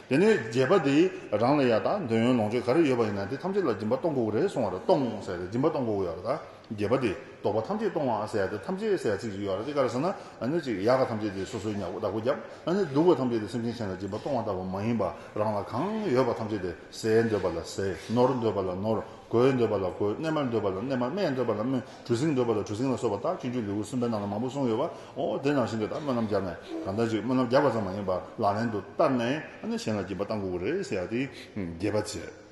དེ་ནས་རྗེས་པ་དེ་རང་ལ་ཡག་ད་འདོད་ཡོན་ལོངས་སྤྱོད་ག་རེ་ཡོད་པ་ཡིན་ན་དེ་ཐམས་ཅད་ལ་སྦྱིན་པ་གཏོང་དགོས་ཀྱི་རེད་གསུངས་བ་རེད་གཏོང་ཟེར་ཏེ་སྦྱིན་པ་གཏོང་དགོས་ཀྱི་ཡོད་རེད་ད། རྒྱས་པ་སྟེ་བདོག་པ་ཐམས་ཅད་གཏོང་བ་ཨ་སེ་ཨ་ཏི་ཐམས་ཅད་ཨ་སེ་ཨ་ཚིག་ཅིག་ཡོད་ར་ཏི་ཀ་ར་ས་ན་ཨ་ནི་ཅིག་ཡ་ག་ཐམས་ཅད་དེ་སོ་སོའི་ཉག་བདག་པོ་རྒྱབ་ཨ་ནི་སྡུག་བ་ཐམས་ཅད་དེ་སེམས་ཅན་གཞན་ལ་སྦྱིན་པ་གཏོང་བ་ལྟ་བུ་མ་ཡིན་པ་རང་ལ་གང་ཡོད་པ་ཐམས་ཅད་དེ་ཟས་འདོད་པ་ལ་ཟས་ནོར་འདོད་པ་ལ་ནོར་གོས་འདོད་པ་ལ་གོས་གནས་མལ་འདོད་པ་ལ་གནས་མལ་སྨད་འདོད་པ་ལ་སྨད་གྲུ་གཟིངས་འདོད་པ་ལ་གྲུ་གཟིངས་ལ་སོགས་པ་རྟགས་ཀྱི་མཆོད་ལེའུ་གསུམ་པའི་ནང་ན་མང་པོ་གསུངས་ཡོད་པ་འོ་དེ་ནང་བཞིན་དུ་ད་སྨོན་ལམ་བརྒྱབ་ནས་གང་ལྟར་ཅིག་སྨོན་ལམ་བརྒྱབ་པ་ཙམ་མ་ཡིན་པར་ལག་ལེན་དུ་བསྟར་ནས་ཨ་ནི་གཞན་ལ་སྦྱིན་པ་གཏང་དགོས་ཀྱི་རེད་ཟེར་ཡ་ཏི་རྒྱས་པ་བྱས།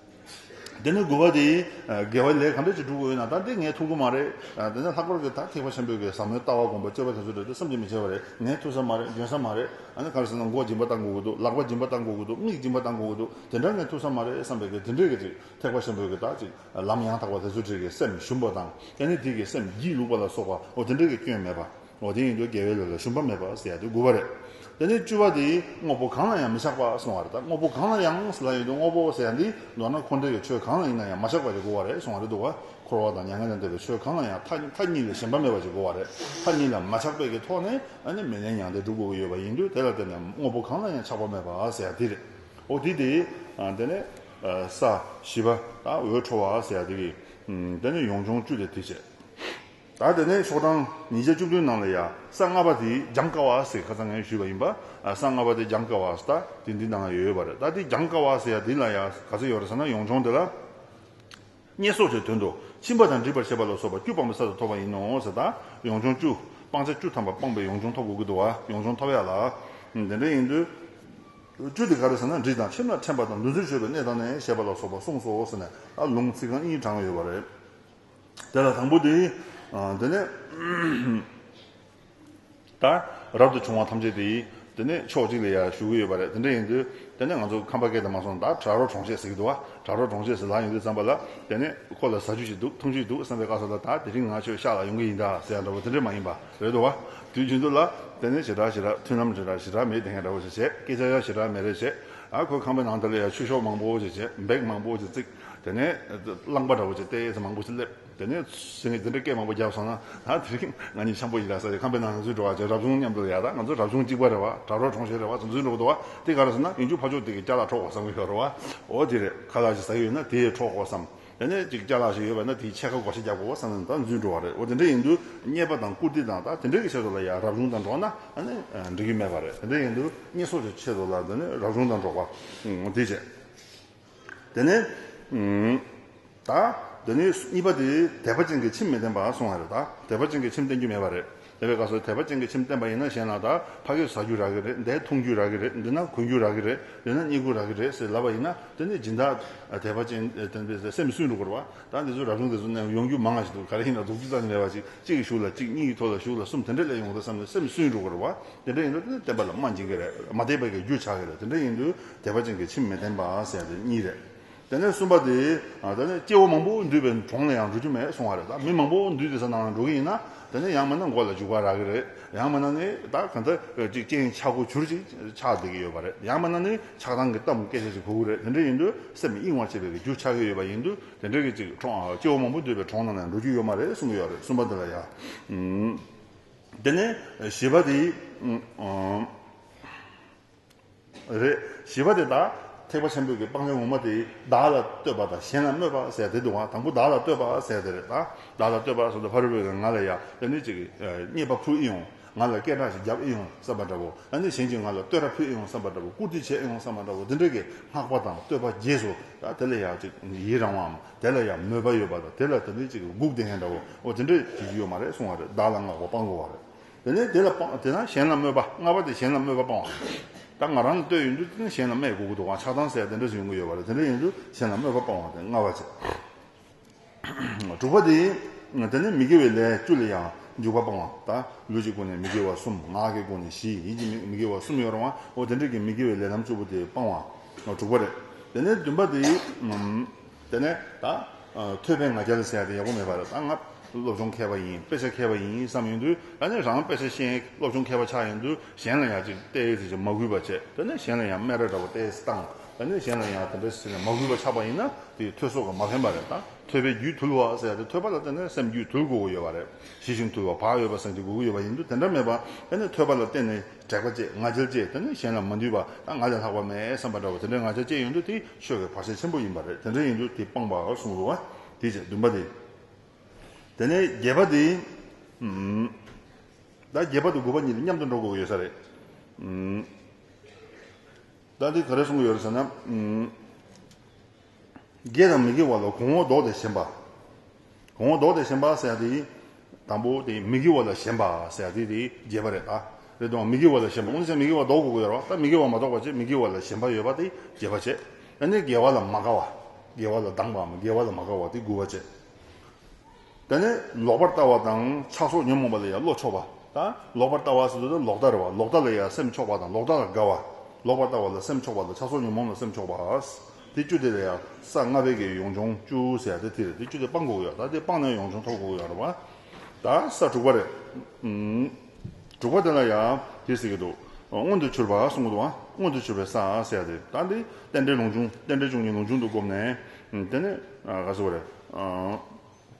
འདི་ནི་དགོས་པ་དེ་ཡིན། དགེ་བའི་ལས་གང་འདྲ་ཅིག་བསྒྲུབ་དགོས་ཡོད་ན་ད་འདི་ངའི་ཐུགས་ཁུར་མ་རེད། འདི་ནི་ལྷག་པར་གྱི་དག་ཐེག་པ་ཆེན་པོའི་ཟབ་མོའི་ལྟ་བ་སྒོམ་པ་སྤྱོད་པ་དེ་ཚོ་རེད་དེ་བསམ་གྱིས་མི་ཁྱབ་པ་རེད། ངའི་ཐུགས་ཟབ་མ་རེད་འཇོན་ཟབ་མ་རེད། གང་ཟེར་ན་མགོ་སྦྱིན་པ་ལྟ་དགོས་ཀྱི་འདུག་ལག་པ་སྦྱིན་པ་ལྟ་དགོས་ཀྱི་འདུག་མིག་སྦྱིན་པ་ལྟ་དགོས་ཀྱི་འདུག་དེ་འདྲ་ངའི་ཐུགས་ཟབ་མ་རེད་བསམ་པའི་གེགས་དེ་འདྲས་ཀྱི་ཅིག་ཐེག་པ་ཆེན་པོའི་གི་དག་ཅིག་ལམ་ཡང་དག་པ་དེ་ཚོ་འདྲས་ཀྱི་སེམས་ཞུམ་པ་དང་ཀྱེ་ནི་དེ་ཀྱི་སེམས་སྒྱིད་ལུག་པ་ལ་སོགས་པའོ་དེ་འདྲས་ཀྱི་སྐྱོན་མེད་པ། ངོ་དེ་ཡིན་དུ་རྒྱལ་བའི་ལུགས་ལ་ཞུམ་པ་མེད་པར་ཟེར་ཡ་དུ་དགུ་བ་རེད། དེ་ནས་བཅུ་བ་དེ་དངོས་པོ་གང་ལ་ཡང་མི་བཞག་པ་གསུང་བ་རེད་ད་དངོས་པོ་གང་ལ་ཡང་ཟེར་ལ་ཡོད་དུ་དངོས་པོ་ཟེར་ཡ་འདི་མདོར་ན་འཁོར་འདས་ཀྱི་ཆོས་གང་ལ་ཡིན་ན་ཡང་མ་བཞག་པ་ཅིག་དགུ་བ་རེད་གསུང་བ་རེད་འདུག་བ་འཁོར་བ་དང་མྱ་ངན་ལས་འདས་པའི་ཆོས་གང་ལ་ཡང་མཐའ་གཉིས་ལས་གཞན་པ་མེད་པ་ཅིག་དགུ་བ་རེད་མཐའ་གཉིས་ལ་མ་ཆགས་པའི་གི་ཐོག་ནས་མི་ལས་མྱང་འདས་སྒྲུབ་དགོས་ཀྱི་ཡོད་པ་ཡིན་དུ་དེ་ལ་བརྟེན་ནས་དངོས་པོ་གང་ལ་ཡང་ཆགས་པ་མེད་པ་ཟེར་ཡ་དེ་རེད་འོ་དེ་དེ་དེ་ནས་ས་བཞི་བ་ད་འོད་འཕྲོ་བ་ཟེར་ཡ་དེ་གི་དེ་ནས་ཡོངས་སྦྱོང་བཅུ་ལས་དེ་བྱས། ད་དེ་ནས་ཆོག་གྲངས་ཉིས་བརྒྱ་བཅུ་བདུན་ནང་ལ་ཡ་ས་ལྔ་པ་དེ་སྦྱང་དཀའ་བ་ཟེར་ཁ་ཚ་ངས་ཞུས་པ་ཡིན་པ་ཡ་ས་ལྔ་པ་དེ་སྦྱང་དཀའ་བ་ཟ་ད་དེ་འདི་ནང་ལ་ཡོད་ཡོད་པ་རེད་ད་དེ་སྦྱང་དཀའ་བ་ཟེར་ཡ་དེ་ལ་ཡ་ག་ཚོད་ཡོད་རེད་ཟེར་ན་ཡོངས་སྦྱོང་དེ་ལ་བསྙད་གསོག་བྱས་དོན་དུ་ཕྱིན་པ་དང་འདྲིས་པར་བྱས་པ་ལ་སོགས་པ་བཅུ་སྤངས་པའི་ས་ལ་ཐོབ་པ་ཡིན་ནོ་ཟེར་ད་ཡོངས་སྦྱོང་བཅུ་སྤངས་ཆ་བཅུ་ཐམ་པ་སྤངས་པའི་ཡོངས་སྦྱོང་ཐོབ་དགོས་ཀྱི་འདུག་བ་ཡོངས་སྦྱོང་ཐོབ་ཡག་ལ་དེ་འདྲ་ཡིན་དུས་བཅུ་དེ་ག་རེད་ཟེར་ན་འདྲིས་དང་ཁྱིམ་ལ་འཕྲེང་པ་དང་འདུ་འཛི་ཆོད་པའི་གནས་དང་ནས་བྱས་པ་ལ་སོགས་པ་གསུངས་སོ་ཟེར་ནས་ལུང་ཚིག་རྐང་གཉིས་དྲངས་ཡོད་པ་རེད། དེ་ལ་དང་པོ་དེ། དེ་ནས་ད་རབ་ཏུ་བྱུང་བ་ཐམས་ཅད་དེ། དེ་ནས་ཕྱོགས་གཅིག་ལ་ཡར་བཞུགས་ཀྱི་ཡོད་པ་རེད་དེ་འདྲ་ཡིན་དུས། དེ་ནས་ང་ཚོ་ཁམས་པ་སྐད་དུ་མ་སོང་ད་བྲག་རོ་གྲོང་ཆས་ཟེར་གྱི་འདུག་བ། བྲག་རོ་གྲོང་ཆས་ཟེར་ལགས་ཡིན་དུས་བརྩམས་པ་ལ། དེ་ནས་ཁོ་ལ་ཟ་རྒྱུ་ཞིག་འདུག་འཐུང་རྒྱུ་འདུག་བསམ་པའི་སྐབས་སུ་ལ་ད་དེ་རིང་ང་ཁྱོད་ཤག་ལ་ཡོང་གི་ཡིན་ད་ཟེར་ཡ་འདྲ་བོ་དེ་འདྲས་མ་ཡིན་པ་རེད་འདུག་བ། དུས་རྒྱུན་དུ་ལ། དེ་ནས་བྱེ་བྲག་བྱེ་བྲག་མཐུན་ལམ་བྱེ་བྲག་བྱེ་བྲག་མེད་དེ་ངས་འདྲ་བོ་ཞིག་བྱས་སྐད་ཆ་ཡ་བྱེ་བྲག་མེད་རེད་བྱས། ཨ་ཁོས་ཁང་པའི་ནང་དེ་ལ་ཡར་ཆུ་ཤོག་མང་པོ་ཞིག་བྱས་འབེག་མང་པོ་ཞིག་བརྩིགས། དེ་ནས་གླང་པ་འདྲ་བོ་ཆེ་སྟེ་ཚེ་མང་པོ་ཞིག་སླེབས། དེ་ནས་ཟེར་ངས་འདི་འདྲ་སྐད་མང་པོ་རྒྱབ་སོང་ན་ད་དེ་རིང་ང་གཉིས་འཆམ་པོ་ཞིག་ལ་ས་ཆ་ཁམས་པའི་ནང་འཛུལ་འགྲོ་བ་བྱས་རབ་བྱུང་མཉམ་དུ་ཡག་ད་ང་ཚོ་རབ་བྱུང་གཅིག་པ་རེད་བ་དྲ་གྲོགས་གྲོང་ཞེས་རེད་བ་ཚོ་འཛུལ་འགྲོ་གི་འདུག་བ་དེ་ག་རེ་ཟེར་ན་ཡུམ་ཆུང་ཕ་ཆོག་སྟེ་གི་སྐྱ་ལག་ཁྲོག་ཁོག་བསམ་གི་ཡོད་རེད་བ་འོ་དེ་རེད་ཁ་ལག་ཅིག་ཟ་གི་ཡོད་ན་དེ་ཡི་ཁྲོག་ཁོག་བསམ། དེ་ནས་ཅིག་སྐྱ་ལག་ཞིག་ཡོད་བ་ན་དེའི་ཕྱེད་ཀ་སྒོ་ཞིག་རྒྱབ་དགོས་བ་བསམ་ནས་ད་འཛུལ་འགྲོ་བ་རེད་བ་དེ་འདྲ་ཡིན་དུས་རྙེད་པ་དང་བཀུར་སྟི་དང་ད་དེ་འདྲའི་གི་ཆེད་དུ་ལ་ཡག་རབ་བྱུང་དང་འགྲོག་ན་ཨ་ནི་འགྲིག་གི་མེད་བ་རེད་དེ་འདྲ་ཡིན་དུས་རྙེད་སོ་ཆེད་དུ་ལ་དེ་ནས་རབ་བྱུང་དང་འགྲོག་བ་དེ་བྱས། དེ་ནས། ད། དེ་ནས་གཉིས་པ་དེ་དད་པ་ཅན་གྱི་ཁྱིམ་མི་བསྟེན་པར་སོང་བ་རེད་ད། དད་པ་ཅན་གྱི་ཁྱིམ་བསྟེན་རྒྱུ་མེད་པ་རེད། དེ་བས་ཀ་སོ་དད་པ་ཅན་གྱི་ཁྱིམ་བསྟེན་པ་ཡིན་ན་གཞན་ལ་ད་ཕ་སྐད་ཟ་རྒྱུ་རག་གི་རེད་འདས་འཐུང་རྒྱུ་རག་གི་རེད་འདི་ན་གོན་རྒྱུ་རག་གི་རེད་འདི་ན་རྙེད་རྒྱུ་རག་གི་རེད་ཟེར་ལབ་པ་ཡིན་ན་དེ་ནི་སྦྱིན་བདག་དད་པ་ཅན་བསྟེན་པའི་སེམས་སུན་འགྲོ་དགོས་རེད་བ། ད་འདི་ཚོ་རབ་བྱུང་དེ་ཚོ་ནས་ཡོང་རྒྱུ་མང་ང་ཞིག་འདུག་ག་རེ་ཡིན་ན་སྡུག་རྩུབ་ཙམ་མེད་པ་ཞིག་གཅིག་གི་ཞུགས་ལ་གཅིག་གཉིས་ཀྱི་ཐོག་ལ་ཞུགས་ལ་གསུམ་དེ་འདྲ་ལས་ཡོང་གི་རེད་བསམ་ནས་སེམས་སུན་འགྲོ་དགོས་རེད་བ། དེ་འདྲ་ཡིན་དུ་དེ་ནི་བསྟེན་པ་ལ་སྨྲ་འཇིག་གི་རེད་མ་བསྟེན་པའི་རྒྱུ་ཆགས་གི་རེད་དེ་འདྲ་ཡིན་དུ་དད་པ་ཅན་གྱི་ཁྱིམ་མི་བསྟེན་པ་ཟེར་ཡང་དེ་གཉིས་རེད། དེ་ནས་གསུམ་པ་དེ། ད་ནི་སྐྱེ་བོ་མང་པོ་འདུས་པའི་གྲོང་ལ་ཡང་འགྲོ་རྒྱུ་མེད་སོང་བ་རེད་ད། མི་མང་པོ་འདུས་དེ་ས་ནང་ལ་འགྲོ་གི་ཡིན་ན། དེ་ནི་ཡང་མིན་ན་མགོ་ལ་འཇུག་པ་རག་གི་རེད། ཡང་མིན་ན་ནི་ད་ག་འདི་ཅིག་སྐྱེ་ཡིན་ཆགས་སྒོ་གྱུར་ཅིག་ཆགས་བསྡད་ཀྱི་ཡོད་པ་རེད། ཡང་མིན་ན་ནི་ཆགས་སྡང་གི་གཏམ་སྐད་ཆ་ཅིག་གོ་གི་རེད་དེ་འདྲས་ཡིན་དུས་སེམས་མི་གཡེང་བ་བྱེད་པའི་གི་རྒྱུ་ཆགས་ཀྱི་ཡོད་པ་ཡིན་དུས་དེ་འདྲས་ཀྱི་ཅིག་གྲོང་སྐྱེ་བོ་མང་པོ་འདུས་པའི་གྲོང་ནང་ལ་ཡང་འགྲོ་རྒྱུ་ཡོད་མ་རེད་གསུང་གི་ཡོད་རེད་གསུམ་པ་འདི་ལ་ཡང། དེ་ནས་བཞི་པ་དེ། རེད། བཞི་པ་དེ་དག་ཐེག་པ་ཆེན་པོའི་སྤང་བྱ་ངོ་མ་དེ་བདག་ལ་ལྟོས་པ་དང་གཞན་ལ་སྨོད་པ་ཟེར་དེ་དུ་བ་དང་པོ་བདག་ལ་ལྟོས་པ་ཟེར་དེ་རེད། བདག་ལ་ལྟོས་པ་ཟེར་དུ་བ་རི་བོས་ང་ལ་ཡ་ད་ནི་ཅིག་རྙེད་པ་ཕུལ་ཨེ་ཡོང། ང་ལ་སྐད་གྲགས་ཤིག་བརྒྱབ་ཨེ་ཡོང་བསམ་པ་འདྲ་བོ། ད་ནི་གཞན་གྱིས་ང་ལ་ལྟོས་ར་ཕུལ་ཨེ་ཡོང་བསམ་པ་འདྲ་བོ་བཀུར་སྟི་བྱས་ཨེ་ཡོང་བསམ་པ་འདྲ་བོ་འདི་འདྲ་གི་སྔགས་པ་དང་ལྟོས་པ་རྗེས་སུ་དེ་ལ་ཡང་ཅིག་ཡི་རང་བའམ་དེ་ལ་ཡང་མོས་པ་ཡོད་པ་དང་དེ་ལ་ད་ནི་ཅིག་སྒུག་བསྡད་མཁན་འདྲ་བོ་འོ་དེ་འདྲ་གྱིས་ཡོད་མ་རེད་གསུང་བ་རེད་བདག་ལ་སྔགས་པ་སྤང་དགོས་བ་རེད། དེ་ནས་དེ་ལ་སྤང་དེ་ན་གཞན་ལ་སྨོད་པ་སྔ་བ་དེ་གཞན་ལ་སྨོད་པ་སྤང་བ་ཡིན། ད་ང་རང་ནི་ལྟོས་ཡོད་འདུག་དེ་ནི་གཞན་ལ་སྨྲས་དགོས་ཀྱི་འདུག་གང་ཆགས་དྭངས་གསལ་དེ་འདྲ་ཞིག་ཡོང་གི་ཡོད་པ་རེད་དེ་འདྲ་ཡིན་དུས་གཞན་ལ་སྨོད་པ་སྤང་བ་དེ་སྔ་བ་ཆེ། དྲུག་པ་དེ་ཡིན། དེ་ནས་མི་དགེ་བའི་ལས་བཅུ་ལ་ཡང་འཇུག་པ་སྤང་བ་ད་ལུས་ཀྱི་སྒོ་ནས་མི་དགེ་བ་གསུམ་ངག་གི་སྒོ་ནས་བཞི་ཡིད་ཀྱི་མི་དགེ་བ་གསུམ་ཡོད་རུང་བའོ་དེ་འདྲ་གི་མི་དགེ་བའི་ལས་རྣམས་བཅུ་པོ་དེ་སྤང་བ་དྲུག་པ་རེད། དེ་ནས་བདུན་པ་དེ་ཡིན། དེ་ནས་ད་ཐོས་པའི་ང་རྒྱལ་ཟེར་ཡག་པོ་མེད་པ་རེད་ད་ང་སློབ་སྦྱོང་མཁས་པ་ཡིན་དཔེ་ཆ་མཁས་པ་ཡིན་བསམ་ཡོང་དུས་ད་ནི་རང་དཔེ་ཆ་ཤེས་སློབ་སྦྱོང་མཁས་པ་ཆགས་ཡོང་དུས་གཞན་ལ་ཡང་ཅིག་བལྟས་ཟེར་གྱི་མ་གུས་པ་བྱེད་དེ་ནས་གཞན་ལ་ཡང་སྨད་ར་འདྲ་བོ་བལྟས་སི་སྟངས་ད་ནི་གཞན་ལ་ཡང་དེ་འདྲ་ཟེར་ནས་མ་གུས་པ་ཆགས་པ་ཡིན་ན་དེ་ཐོས་སོག་གི་མ་ཕན་པ་རེད་ད་ཐོས་པའི་རྒྱུད་དུལ་བ་ཟེར་ཡག་དེ་ཐོས་པ་ལ་བརྟེན་ནས་སེམས་རྒྱུད་དུལ་དགོས་ཀྱི་ཡོད་པ་རེད་ཞི་ཞིང་དུལ་བ་བག་ཡོད་པ་ཟེར་གྱི་དགོས་ཀྱི་ཡོད་པ་ཡིན་དུས་དེ་འདྲ་མེད་པ་ད་ནི་ཐོས་པ་ལ་བརྟེན་ནས། དྲེགས་པ་བཅས་ང་རྒྱལ་བཅས་དེ་ནི་གཞན་ལ་མ་འདུས་པ་དང་ང་ལས་ལྷག་པ་མེད་བསམ་པ་འདྲ་བ་དེ་འདྲའི་ང་རྒྱལ་བཅས་ཡོད་འདུག་དེ་ཆོས་ཀྱི་བར་ཆད་ཆེན་པོ་ཡིན་པ་རེད་དེ་འདྲ་ཡིན་འདུག་དེ་སྤངས་པར་གསུངས་འདུག་བ་དེ་བཅས་བདུན་པ་དེ། དེ་ནས་བརྒྱད་པ་དེ། ད་བརྒྱད་པ་དང་དགུ་པ་གཉིས་དེ་མཉམ་དུ་འགྲོ་དགོས་ཀྱི་ཡོད་ས་རེད། ད་འདི་ག་རེ་གསུངས་ཀྱི་ཡོད་རེད་ཟེར་ན། དགེ་དང་མི་དགེ་བ་ལ་གོང་འོག་ལྡོག་སྟེ་ཞེན་པ། གོང་འོག་ལྡོག་སྟེ་ཞེན་པ་ཟེར་ཡག་དེ། དང་པོ་དེ་མི་དགེ་བ་ལ་ཞེན་པ་ཟེར་ཡག་དེ་དེ་རྒྱས་པ་རེད་ད། རེད་དོ། མི་དགེ་བ་ལ་ཞེན་པ་ཨོ་ན་སེ་མི་དགེ་བ་ལྡོག་དགོས་ཀྱི་ཡོད་རོ་ད་མི་དགེ་བ་མ་གཏོགས་པ་ཅི་མི་དགེ་བ་ལ་ཞེན་པ་ཡོད་པ་དེ་རྒྱས་པ་བྱེད། ཨ་ནི་དགེ་བ་ལ་མ་དགའ་བ། དགེ་བ་ལ་སྡང་བའམ་དགེ་བ་ལ་མ་དགའ་བ་དེ་དགུ་བ་བྱེད། དེ་ནས་ལོག་པར་ལྟ་བ་དང་ཆགས་སོགས་ཉོན་མོངས་པ་ལ་ཡང་བློ་ཕྱོགས་པ་དང། ལོག་པར་ལྟ་བ་ཟེར་དུས་ལོག་ལྟ་རེད་བ་ལོག་ལྟ་ལ་ཡང་སེམས་ཕྱོགས་པ་དང་ལོག་ལྟ་ལ་དགའ་བ། ལོག་པར་ལྟ་བ་ལ་སེམས་ཕྱོགས་པ་དང་ཆགས་སོགས་ཉོན་མོངས་ལ་སེམས་ཕྱོགས་པ། དེ་བཅུ་དེ་ལ་ཡང་ས་ལྔ་བད་ཀན་ཡོངས་སྦྱོང་བཅུ་ཟེར་ཡང་དེ་དེ་རེད་དེ་བཅུ་དེ་སྤངས་དགོས་ཀྱི་ཡོད་དཱ་དེ་སྤངས་ན་ཡོངས་སྦྱོང་ཐོབ་དགོས་ཀྱི་ཡོད་རེད་བ་དཱ་ས་དྲུག་པ་རེད། དྲུག་པ་དེ་ལ་ཡང་དེས་ཟེར་གྱི་འདུག། མངོན་དུ་གྱུར་པ་གསུང་གི་དུའང་མངོན་དུ་གྱུར་པའི་སའང་ཟེར་ཡ་དེ། ད་འདི་རྟེན་འབྲེལ་ལུང་ཆུང་རྟེན་འབྲེལ་བཅུ་གཉིས་ལུང་ཆུང་དུ་བསྒོམས་ནས། དེ་ནི་ག་ཟེར་བ་རེད།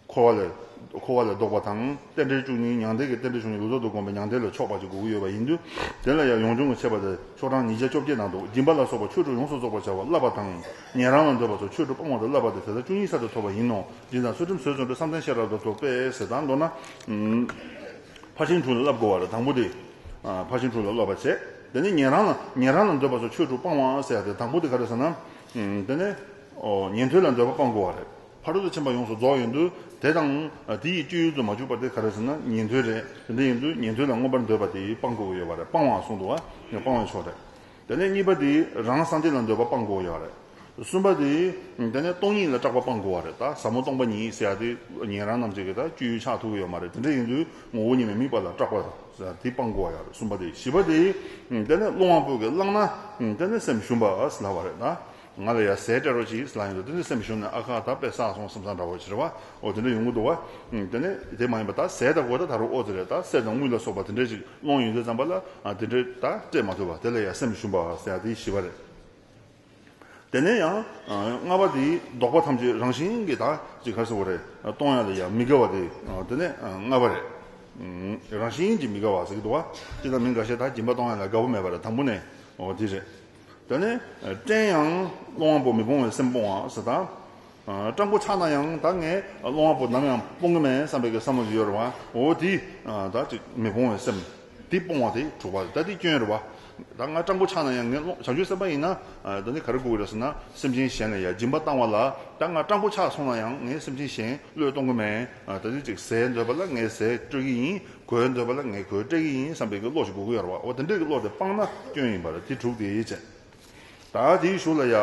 འཁོར་བ་ལས། འཁོར་བ་ལས་བཟློག་པ་དང་རྟེན་འབྲེལ་བཅུ་གཉིས་མྱང་འདས་ཀྱི་རྟེན་འབྲེལ་བཅུ་གཉིས་ལུས་རྟོག་ཏུ་བསྒོམས་པའི་མྱང་འདས་ལ་ཕྱོགས་པ་གཅིག་དགུ་དགུ་ཡོད་པ་ཡིན་དུས། དེ་ལ་ཡང་ཡོངས་སྦྱོང་གི་འཆད་པ་དེ་ཕྱོགས་གྲངས་ཉིས་བརྒྱ་བཅོ་བརྒྱད་ནང་དུ་སྦྱིན་པ་ལ་སོགས་པ་ཆོས་དྲུག་ཡོངས་སུ་རྫོགས་པར་བྱ་བ་བསླབ་པ་དང། ཉན་རང་ལ་འདོད་པ་སོགས་ཆོས་དྲུག་སྤང་བ་དང་བསླབ་པ་དེ་དེ་དག་བཅུ་གཉིས་གསར་དུ་ཐོབ་པ་ཡིན་ནོ། སྦྱིན་དང་ཚུལ་ཁྲིམས་བཟོད་བརྩོན་འགྲུས་བསམ་གཏན་ཤེས་རབ་དང་ཐུགས་དཔེ་ཟེར་དང་མདོར་ན། ཕར་ཕྱིན་དྲུག་ལ་བསླབ་དགོས་བ་ལ་དང་པོ་དེ། ཕར་ཕྱིན་དྲུག་ལ་སློབ་པར་བྱེད། དེ་ནས་ཉན་རང་ལ། ཉན་རང་ལ་འདོད་པ་སོགས་ཆོས་དྲུག་སྤང་བ་ཟེར་བ་དེ་དང་པོ་དེ་ག་རེ་ཟེར་ན། དེ་ནས། ཉན་ཐོས་ལ་འདོད་པ་སྤང་དགོས་བ་རེད། ཕ་རོལ་ཏུ་ཕྱིན་པ་ཡོངས་སུ་རྫོགས་ཡིན་དུས་དེ་དང། དེ་ཡི་སྤྱོད་ཡུལ་དུ་མ་གྱུར་པ་དེ་ག་རེ་ཟེར་ན་ཉན་ཐོས་རེད། དེ་འདྲ་ཡིན་དུས་ཉན་ཐོས་ལ་མངོན་པར་འདོད་པ་དེ་སྤང་དགོས་བ་ཡོད་བ་རེད་སྤང་བའང་གསུངས་འདུག་བ། སྤང་བའི་ཕྱོགས་རེད། དེ་ནས་གཉིས་པ་དེ་རང་སངས་རྒྱས་ལ་འདོད་པ་སྤངས་དགོས་ཡག་རེད། གསུམ་པ་དེ་དེ་ནས་སྟོང་ཉིད་ལ་སྐྲག་པ་སྤངས་དགོས་བ་རེད་ད་ཟབ་མོ་སྟོང་པ་ཉིད་ཟེར་ཡག་དེ་ཉན་རང་རྣམས་ཀྱི་གི་ད་སྤྱོད་ཡུལ་ཆགས་ཐུབ་ཀྱི་ཡོད་མ་རེད་དེ་འདྲ་ཡིན་དུས་ངོ་བོ་ཉིད་ནས་དམིགས་པ་ལ་སྐྲག་པ་ཟེར་དེ་སྤངས་དགོས་བ་ཡག་རེད་གསུམ་པ་དེ་བཞི་པ་དེ་དེ་ནས་རླུང་དབང་པོ་གི་བླངས་ན་དེ་ནས་སེམས་ཞུམ་པ་ཟླ་བ་རེད་ད། ང་ལ་ཡ་ཟས་སྤྲད་རོགས་ཅིག་ལ་ཡིན་དུ་དེ་འདྲའི་སེམས་བྱུང་ནས་ཨ་ཁ་ད་པས་ཟ་སོང་བསམ་ས་འདྲ་བོ་ཟེར་བ་ཨོ་དེ་འདྲ་ཡོང་གི་འདུག་བ། དེ་ནས་དེ་མ་ཡིན་པ་ད་ཟས་ད་གོ་ད་ད་རུང་ཨོ་ཙེ་རེད་ད་སེར་དང་དངུལ་ལ་སོགས་པ་དེ་འདྲས་ཅིག་སློང་ཡོང་རྗེས་རྩམ་པ་ལ་དེ་འདྲས་ད་སྤྲད་མ་ཐུབ་བ་དེ་ལ་ཡ་སེམས་བྱུང་བ་ཟེར་ཡ་དེ་ཞི་བ་རེད། དེ་ནས་ཡང་རྔ་བ་དེའི་བདོག་པ་ཐམས་ཅད་རང་བཞིན་གྱིས་ད་ཅིག་ཁར་སོང་བ་རེད་གཏོང་ཡ་ལ་ཡ་མི་དགའ་བ་དེ་དེ་ནས་རྔ་བ་རེད། རང་བཞིན་གྱིས་མི་དགའ་བ་ཟེར་གི་འདུག་བ། ཅི་ད་མི་འགའ་ཤས་ད་སྦྱིན་པ་གཏོང་ཡ་ལ་དགའ་བོ་མེད་པ་རེད་དང་པོ་ནས་ཨོ་དེ་རེད། དོན་ནི། བཀྲེན་ཡང་སློང་བ་པོ་མི་སྤོང་བའི་སེམས་སྤོང་བ་ཟེར། སྐྲག་མགོ་ཆག་ན་ཡང་ད་ངས་སློང་བ་པོ་ནམ་ཡང་སྤོང་གི་མེད་བསམ་པའི་བསམ་བློ་ཞིག་ཡོད་རེད་བ། འོ་དེ་ད་ཅིག་མི་སྤོང་བའི་སེམས། དེ་སྤོང་བ་དེ་འཁྲུག་པ་རེད་ད་དེ་སྐྱོན་རེད་བ། ད་ང་སྐྲག་མགོ་ཆག་ན་ཡང་ངས་སློང་བྱང་ཆུབ་སེམས་དཔའ་ཡིན་ན་ད་ནི་ག་རེ་དགོས་རེད་ཟེར་ན་སེམས་ཅན་གཞན་ལ་ཡ་སྦྱིན་པ་བཏང་བ་ལ་ད་ང་སྐྲག་མགོ་ཆག་སོང་ན་ཡང་ངས་སེམས་ཅན་གཞན་བློས་གཏོང་གི་མེད་ད་དེ་ཅིག་ཟས་འདོད་པ་ལ་ངས་ཟས་སྤྲོད་ཀྱི་ཡིན། གོས་འདོད་པ་ལ་ངས་གོས་སྤྲད་ཀྱི་ཡིན་བསམ་པའི་གི་བློ་ཞིག་དགོས་ཀྱི་ཡོད་རེད་བ་འོ་དེ་འདྲའི་གི་བློ་དེ་སྤངས་ན་སྐྱོན་ཡིན་པ་རེད་དེ་དྲུག་དེའི་ཡིད་ཆེས། ད་དེའི་གཞུག་ལ་ཡ།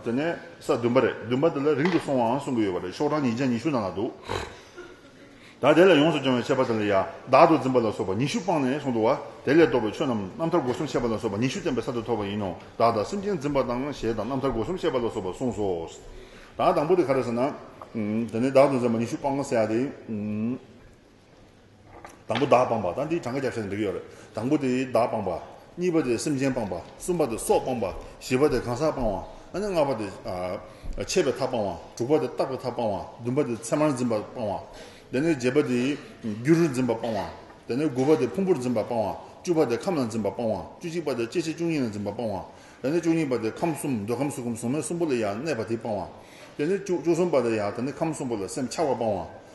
དེ་ནས་ས་བདུན་པ་རེད་བདུན་པ་དེ་ལ་རིང་དུ་སོང་བའང་གསུང་གི་ཡོད་པ་རེད་ཤོག་གྲངས་ཉིན་བརྒྱ་ཉི་ཤུ་ནང་ལ་འདུག་ད་དེ་ལ་ཡོངས་སུ་སྦྱོང་བའི་འཆད་པ་དེ་ལ་ཡ། བདག་ཏུ་འཛིན་པ་ལ་སོགས་པ་ཉི་ཤུ་སྤངས་ནས་གསུང་དུ་བ་དེ་ལས་བཟློག་པའི་ཆོས་རྣམས་རྣམ་ཐར་སྒོ་གསུམ་འཆད་པ་ལ་སོགས་པ་ཉི་ཤུ་བསྟན་པའི་ས་དེ་ཐོབ་པ་ཡིན་ནོ་བདག་དང་སེམས་ཅན་འཛིན་པ་དང་ཞེས་དང་རྣམ་ཐར་སྒོ་གསུམ་འཆད་པ་ལ་སོགས་པ་གསུངས་སོ། ད་དང་པོ་དེ་ག་རེད་ཟེར་ན། དེ་ནས་བདག་ཏུ་འཛིན་པ་ཉི་ཤུ་སྤངས་སེ་ཡ་དེ། དང་པོ་བདག་སྤངས་པ་དང་དེའི་གྲངས་ཀ་རྒྱབ་ཤ་ནས་འགྲིག་གི་ཡོད་རེད། དང་པོ་དེ་བདག་སྤངས་པ། གཉིས་པ་དེ་སེམས་ཅན་སྤངས་པ། གསུམ་པ་དེ་སྲོག་སྤངས་པ། བཞི་པ་དེ་གང་ཟག་སྤངས་བ། ཨ་ནི་ལྔ་པ་དེ། ཆད་པའི་མཐའ་སྤངས་བ། དྲུག་པ་དེ་རྟག་པའི་མཐའ་སྤངས་བ། བདུན་པ་དེ་མཚན་མར་འཛིན་པ་སྤངས་བ། དེ་ནས་བརྒྱད་པ་དེ། རྒྱུ་རུ་འཛིན་པ་སྤངས་བ། དེ་ནས་དགུ་བ་དེ་ཕུང་པོར་འཛིན་པ་སྤངས་བ། བཅུ་བ་དེ་ཁམས་ལ་འཛིན་པ་སྤངས་བ། བཅུ་གཅིག་པ་དེ་སྐྱེ་མཆེད་བཅུ་གཉིས་ལ་འཛིན་པ་སྤངས་བ། དེ་ནས་བཅུ་གཉིས་པ་དེ་ཁམས་གསུམ་འདོད་ཁམས་སུ་ཁམས་གཟུགས་མེད་གསུམ་པོ་ལ་ཡང་གནས་པ་དེ་སྤངས་བ། དེ་ནས་བཅུ་གསུམ་པ་དེ་ཡང་དེ་ནས་ཁམས་གསུམ་པོ་ལ་སེམས་འཆར་བ་སྤངས་བ།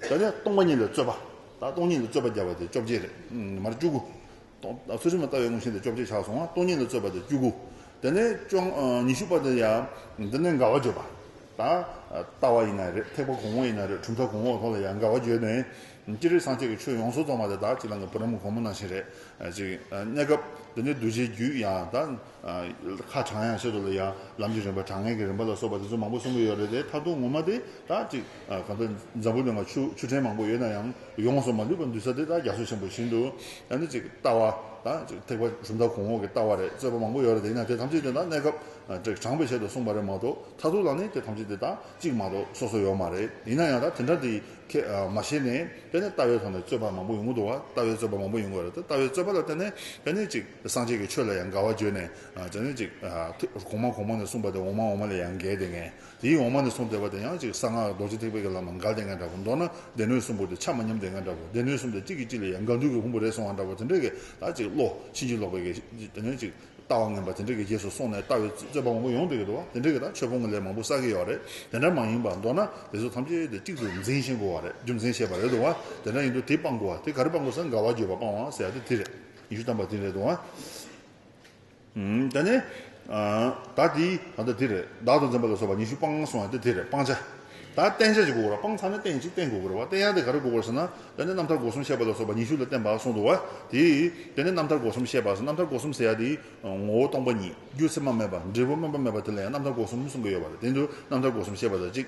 ད་ལྟ་སྟོང་པ་ཉིད་ལ་རྩོད་པ། ད་སྟོང་ཉིད་ལ་རྩོད་པ་བརྒྱབ་པ་དེ་བཅོ་བརྒྱད་རེད། མར་བཅུ་དགུ། ད་ཚུལ་ཁྲིམས་ལ་ལྟ་བའི་དངོས་གཞི་དེ་བཅོ་བརྒྱད་ཆགས་སོང་ང་སྟོང་ཉིད་ལ་རྩོད་པ་དེ་བཅུ་དགུ། དེ་ནས་བཅོ་ཉི་ཤུ་པ་དེ་ཡང་འདི་ནས་དགའ་བ་བརྗོད་པ། ད་ལྟ་བ་ཡིན་ན་རེད་ཐེག་པ་གོང་འོག་ཡིན་ན་རེད་གྲུབ་མཐའ་གོང་འོག་ཐོག་ལ་ཡང་དགའ་བ་བརྗོད་ནས། སྤྱིར་རིག་སངས་རྒྱས་ཀྱི་ཆོས་ཡོངས་སུ་རྫོགས་མ་དེ་དག་གཅིག་ལ་འགའ་བུ་རམ་གོང་མ་ནང་བཞིན་རེད། གཅིག་གནས་སྐབས་དེ་ནས་གདུལ་བྱའི་རྒྱུད་ཡང་དག། ཁ་བྱང་ཡང་བཤད་འདུག་ལ་ཡ། ལམ་གྱི་རིམ་པ་དྲང་ངེས་ཀྱི་རིམ་པ་ལ་སོགས་པ་དེ་ཚོ་མང་པོ་གསུང་གི་ཡོད་རེད་དེ་མཐར་ཐུག་ངོ་མ་དེ་དག་ཅིག་གང་ལྟར་འཛམ་བུ་གླིང་བ་ཆུ་ཆུ་ཕྲན་མང་པོ་ཡོད་ན་ཡང་ཡོངས་སུ་མ་ལུས་པར་འདུས་ས་དེ་དག་རྒྱ་མཚོ་ཆེན་པོ་བཞིན་དུ་ཡང་ནི་ཅིག་ལྟ་བ་དང་ཅིག་ཐེག་པ་གྲུབ་མཐའ་གོང་འོག་གི་ལྟ་བ་རེད་རྩོད་པ་མང་པོ་ཡོད་རེད་དེ་ཡིན་ན་དེ་ཐམས་ཅད་དེ་དག་གནས་སྐབས་དྲངས་པའི་ཆེད་དུ་གསུངས་པ་རེད་མ་གཏོགས་མཐར་ཐུག་ལ་ནི་དེ་ཐམས་ཅད་དེ་དག་ཅིག་མ་གཏོགས་སོ་སོ་ཡོད་མ་རེད་ཡིན་ན་ཡང་དག་དེ་འདྲ་དེ་ཁས་མ་ཤེས་ནས་དཔེར་ན་ལྟ་བའི་ཐོག་ནས་རྩོད་པ་མང་པོ་ཡོང་གི་འདུག་བ་ལྟ་བའི་རྩོད་པ་མང་པོ་ཡོང་གི་རེད་དེ་ལྟ་བའི་རྩོད་པ་ལ་བརྟེན་ནས་དཔེར་ན་ཅིག། སངས་རྒྱས་ཀྱི་ཆོས་ལ་ཡང་དགའ་བ་བརྗོད་ནས། བྱང་ཆུབ་ཅིག། གོང་མ་གོང་མ་ནས་གསུངས་པ་དེ་འོག་མ་འོག་མ་ལས་ཡང་འགལ་ཏེ་ངན། དེའི་འོག་མ་ནས་གསུངས་ཟེར་བ་དེ་ཡང་ཅིག་གསང་སྔགས་རྡོ་རྗེ་ཐེག་པའི་གེ་ལ་མ་འགལ་ཏེ་ངན་འདྲ་བོ། མདོར་ན་སྡེ་སྣོད་གསུམ་པོ་དེ་ཆ་མ་མཉམ་ཏེ་ངན་འདྲ་བོ། སྡེ་སྣོད་གསུམ་དེ་གཅིག་གིས་གཅིག་ལ་ཡང་དགའ་འདུག་གི་ཕུང་པོ་རེ་སོང་བ་འདྲ་བོ་དེ་འདྲའི་གེ་ལ་ཅིག་བློ་ཕྱིན་ཅི་ལོག་པའི་གེ་ལ་ཅིག་ལྟ་བ་ངན་པ་དེ་འདྲའི་གེ་རྗེས་སུ་སོང་ནས་ལྟ་བའི་རྩོད་པ་མང་པོ་ཡོང་འདུག་གི་འདུག་བ་དེ་འདྲའི་གེ་ལ་ཆོས་སྤོང་གི་ལས་མང་པོ་བསགས་ཀྱི་ཡོད་རེད་དེ་འདྲ་མ་ཡིན་པ་མདོར་ན་དེ་ཚོ་ཐམས་ཅད་དེ་གཅིག་ཏུ་འཛིན་ཤེས་དགོས་བ་རེད་རྒྱུ་མཚན་བཤད་པ་རེད་འདུག་བ་དེ་འདྲ་ཡིན་དུ་དེ་སྤང་དགོས་བ་དེ་ག་རེ་སྤང་དགོས་སམ་དགའ་བ་བརྗོད་པ་སྤང་བ་ཟེར་ཡ་དེ་དེ་རེད། ཉི་ཤུ་བལྟམས་པ་འདི་རེད་དོ། ད་ནི། བདག་འདི། ད་ལྟ་འདི་རེད། བདག་ཏུ་འཛིན་པ་ལ་སོགས་པ་ཉི་ཤུ་སྤང་བླང་སོང་ཡང་ཏེ་འདི་རེད་སྤང་བྱ། ད་བསྟན་བྱ་ཅི་དགོས་བར་སྤང་ཚར་ན་བསྟན་ཅི་བསྟན་དགོས་བར་བ་བསྟན་ཡང་དེ་ག་རེ་དགོས་བར་ཟེར་ན། ད་ནི་རྣམ་ཐར་སྒོ་གསུམ་བཤད་པ་ལ་སོགས་པ་ཉི་ཤུ་ལ་བསྟན་པ་སོང་འདུག་བ་དེ། དེ་ནི་རྣམ་ཐར་སྒོ་གསུམ་བཤད་པ་ཟེར་རྣམ་ཐར་སྒོ་གསུམ་ཟེར་ཡ་དེ། ངོ་བོ་སྟོང་པ་ཉིད་རྒྱུ་མཚན་མ་མེད་པ་འབྲས་བུ་སྨོན་པ་མེད་པ་དེ་ལ་ཡང་རྣམ་ཐར་སྒོ་གསུམ་གསུང་གི་ཡོད་བ་ལ་དེ་འདུག་རྣམ་ཐར་སྒོ་གསུམ་བཤད་པ་ལ་གཅིག།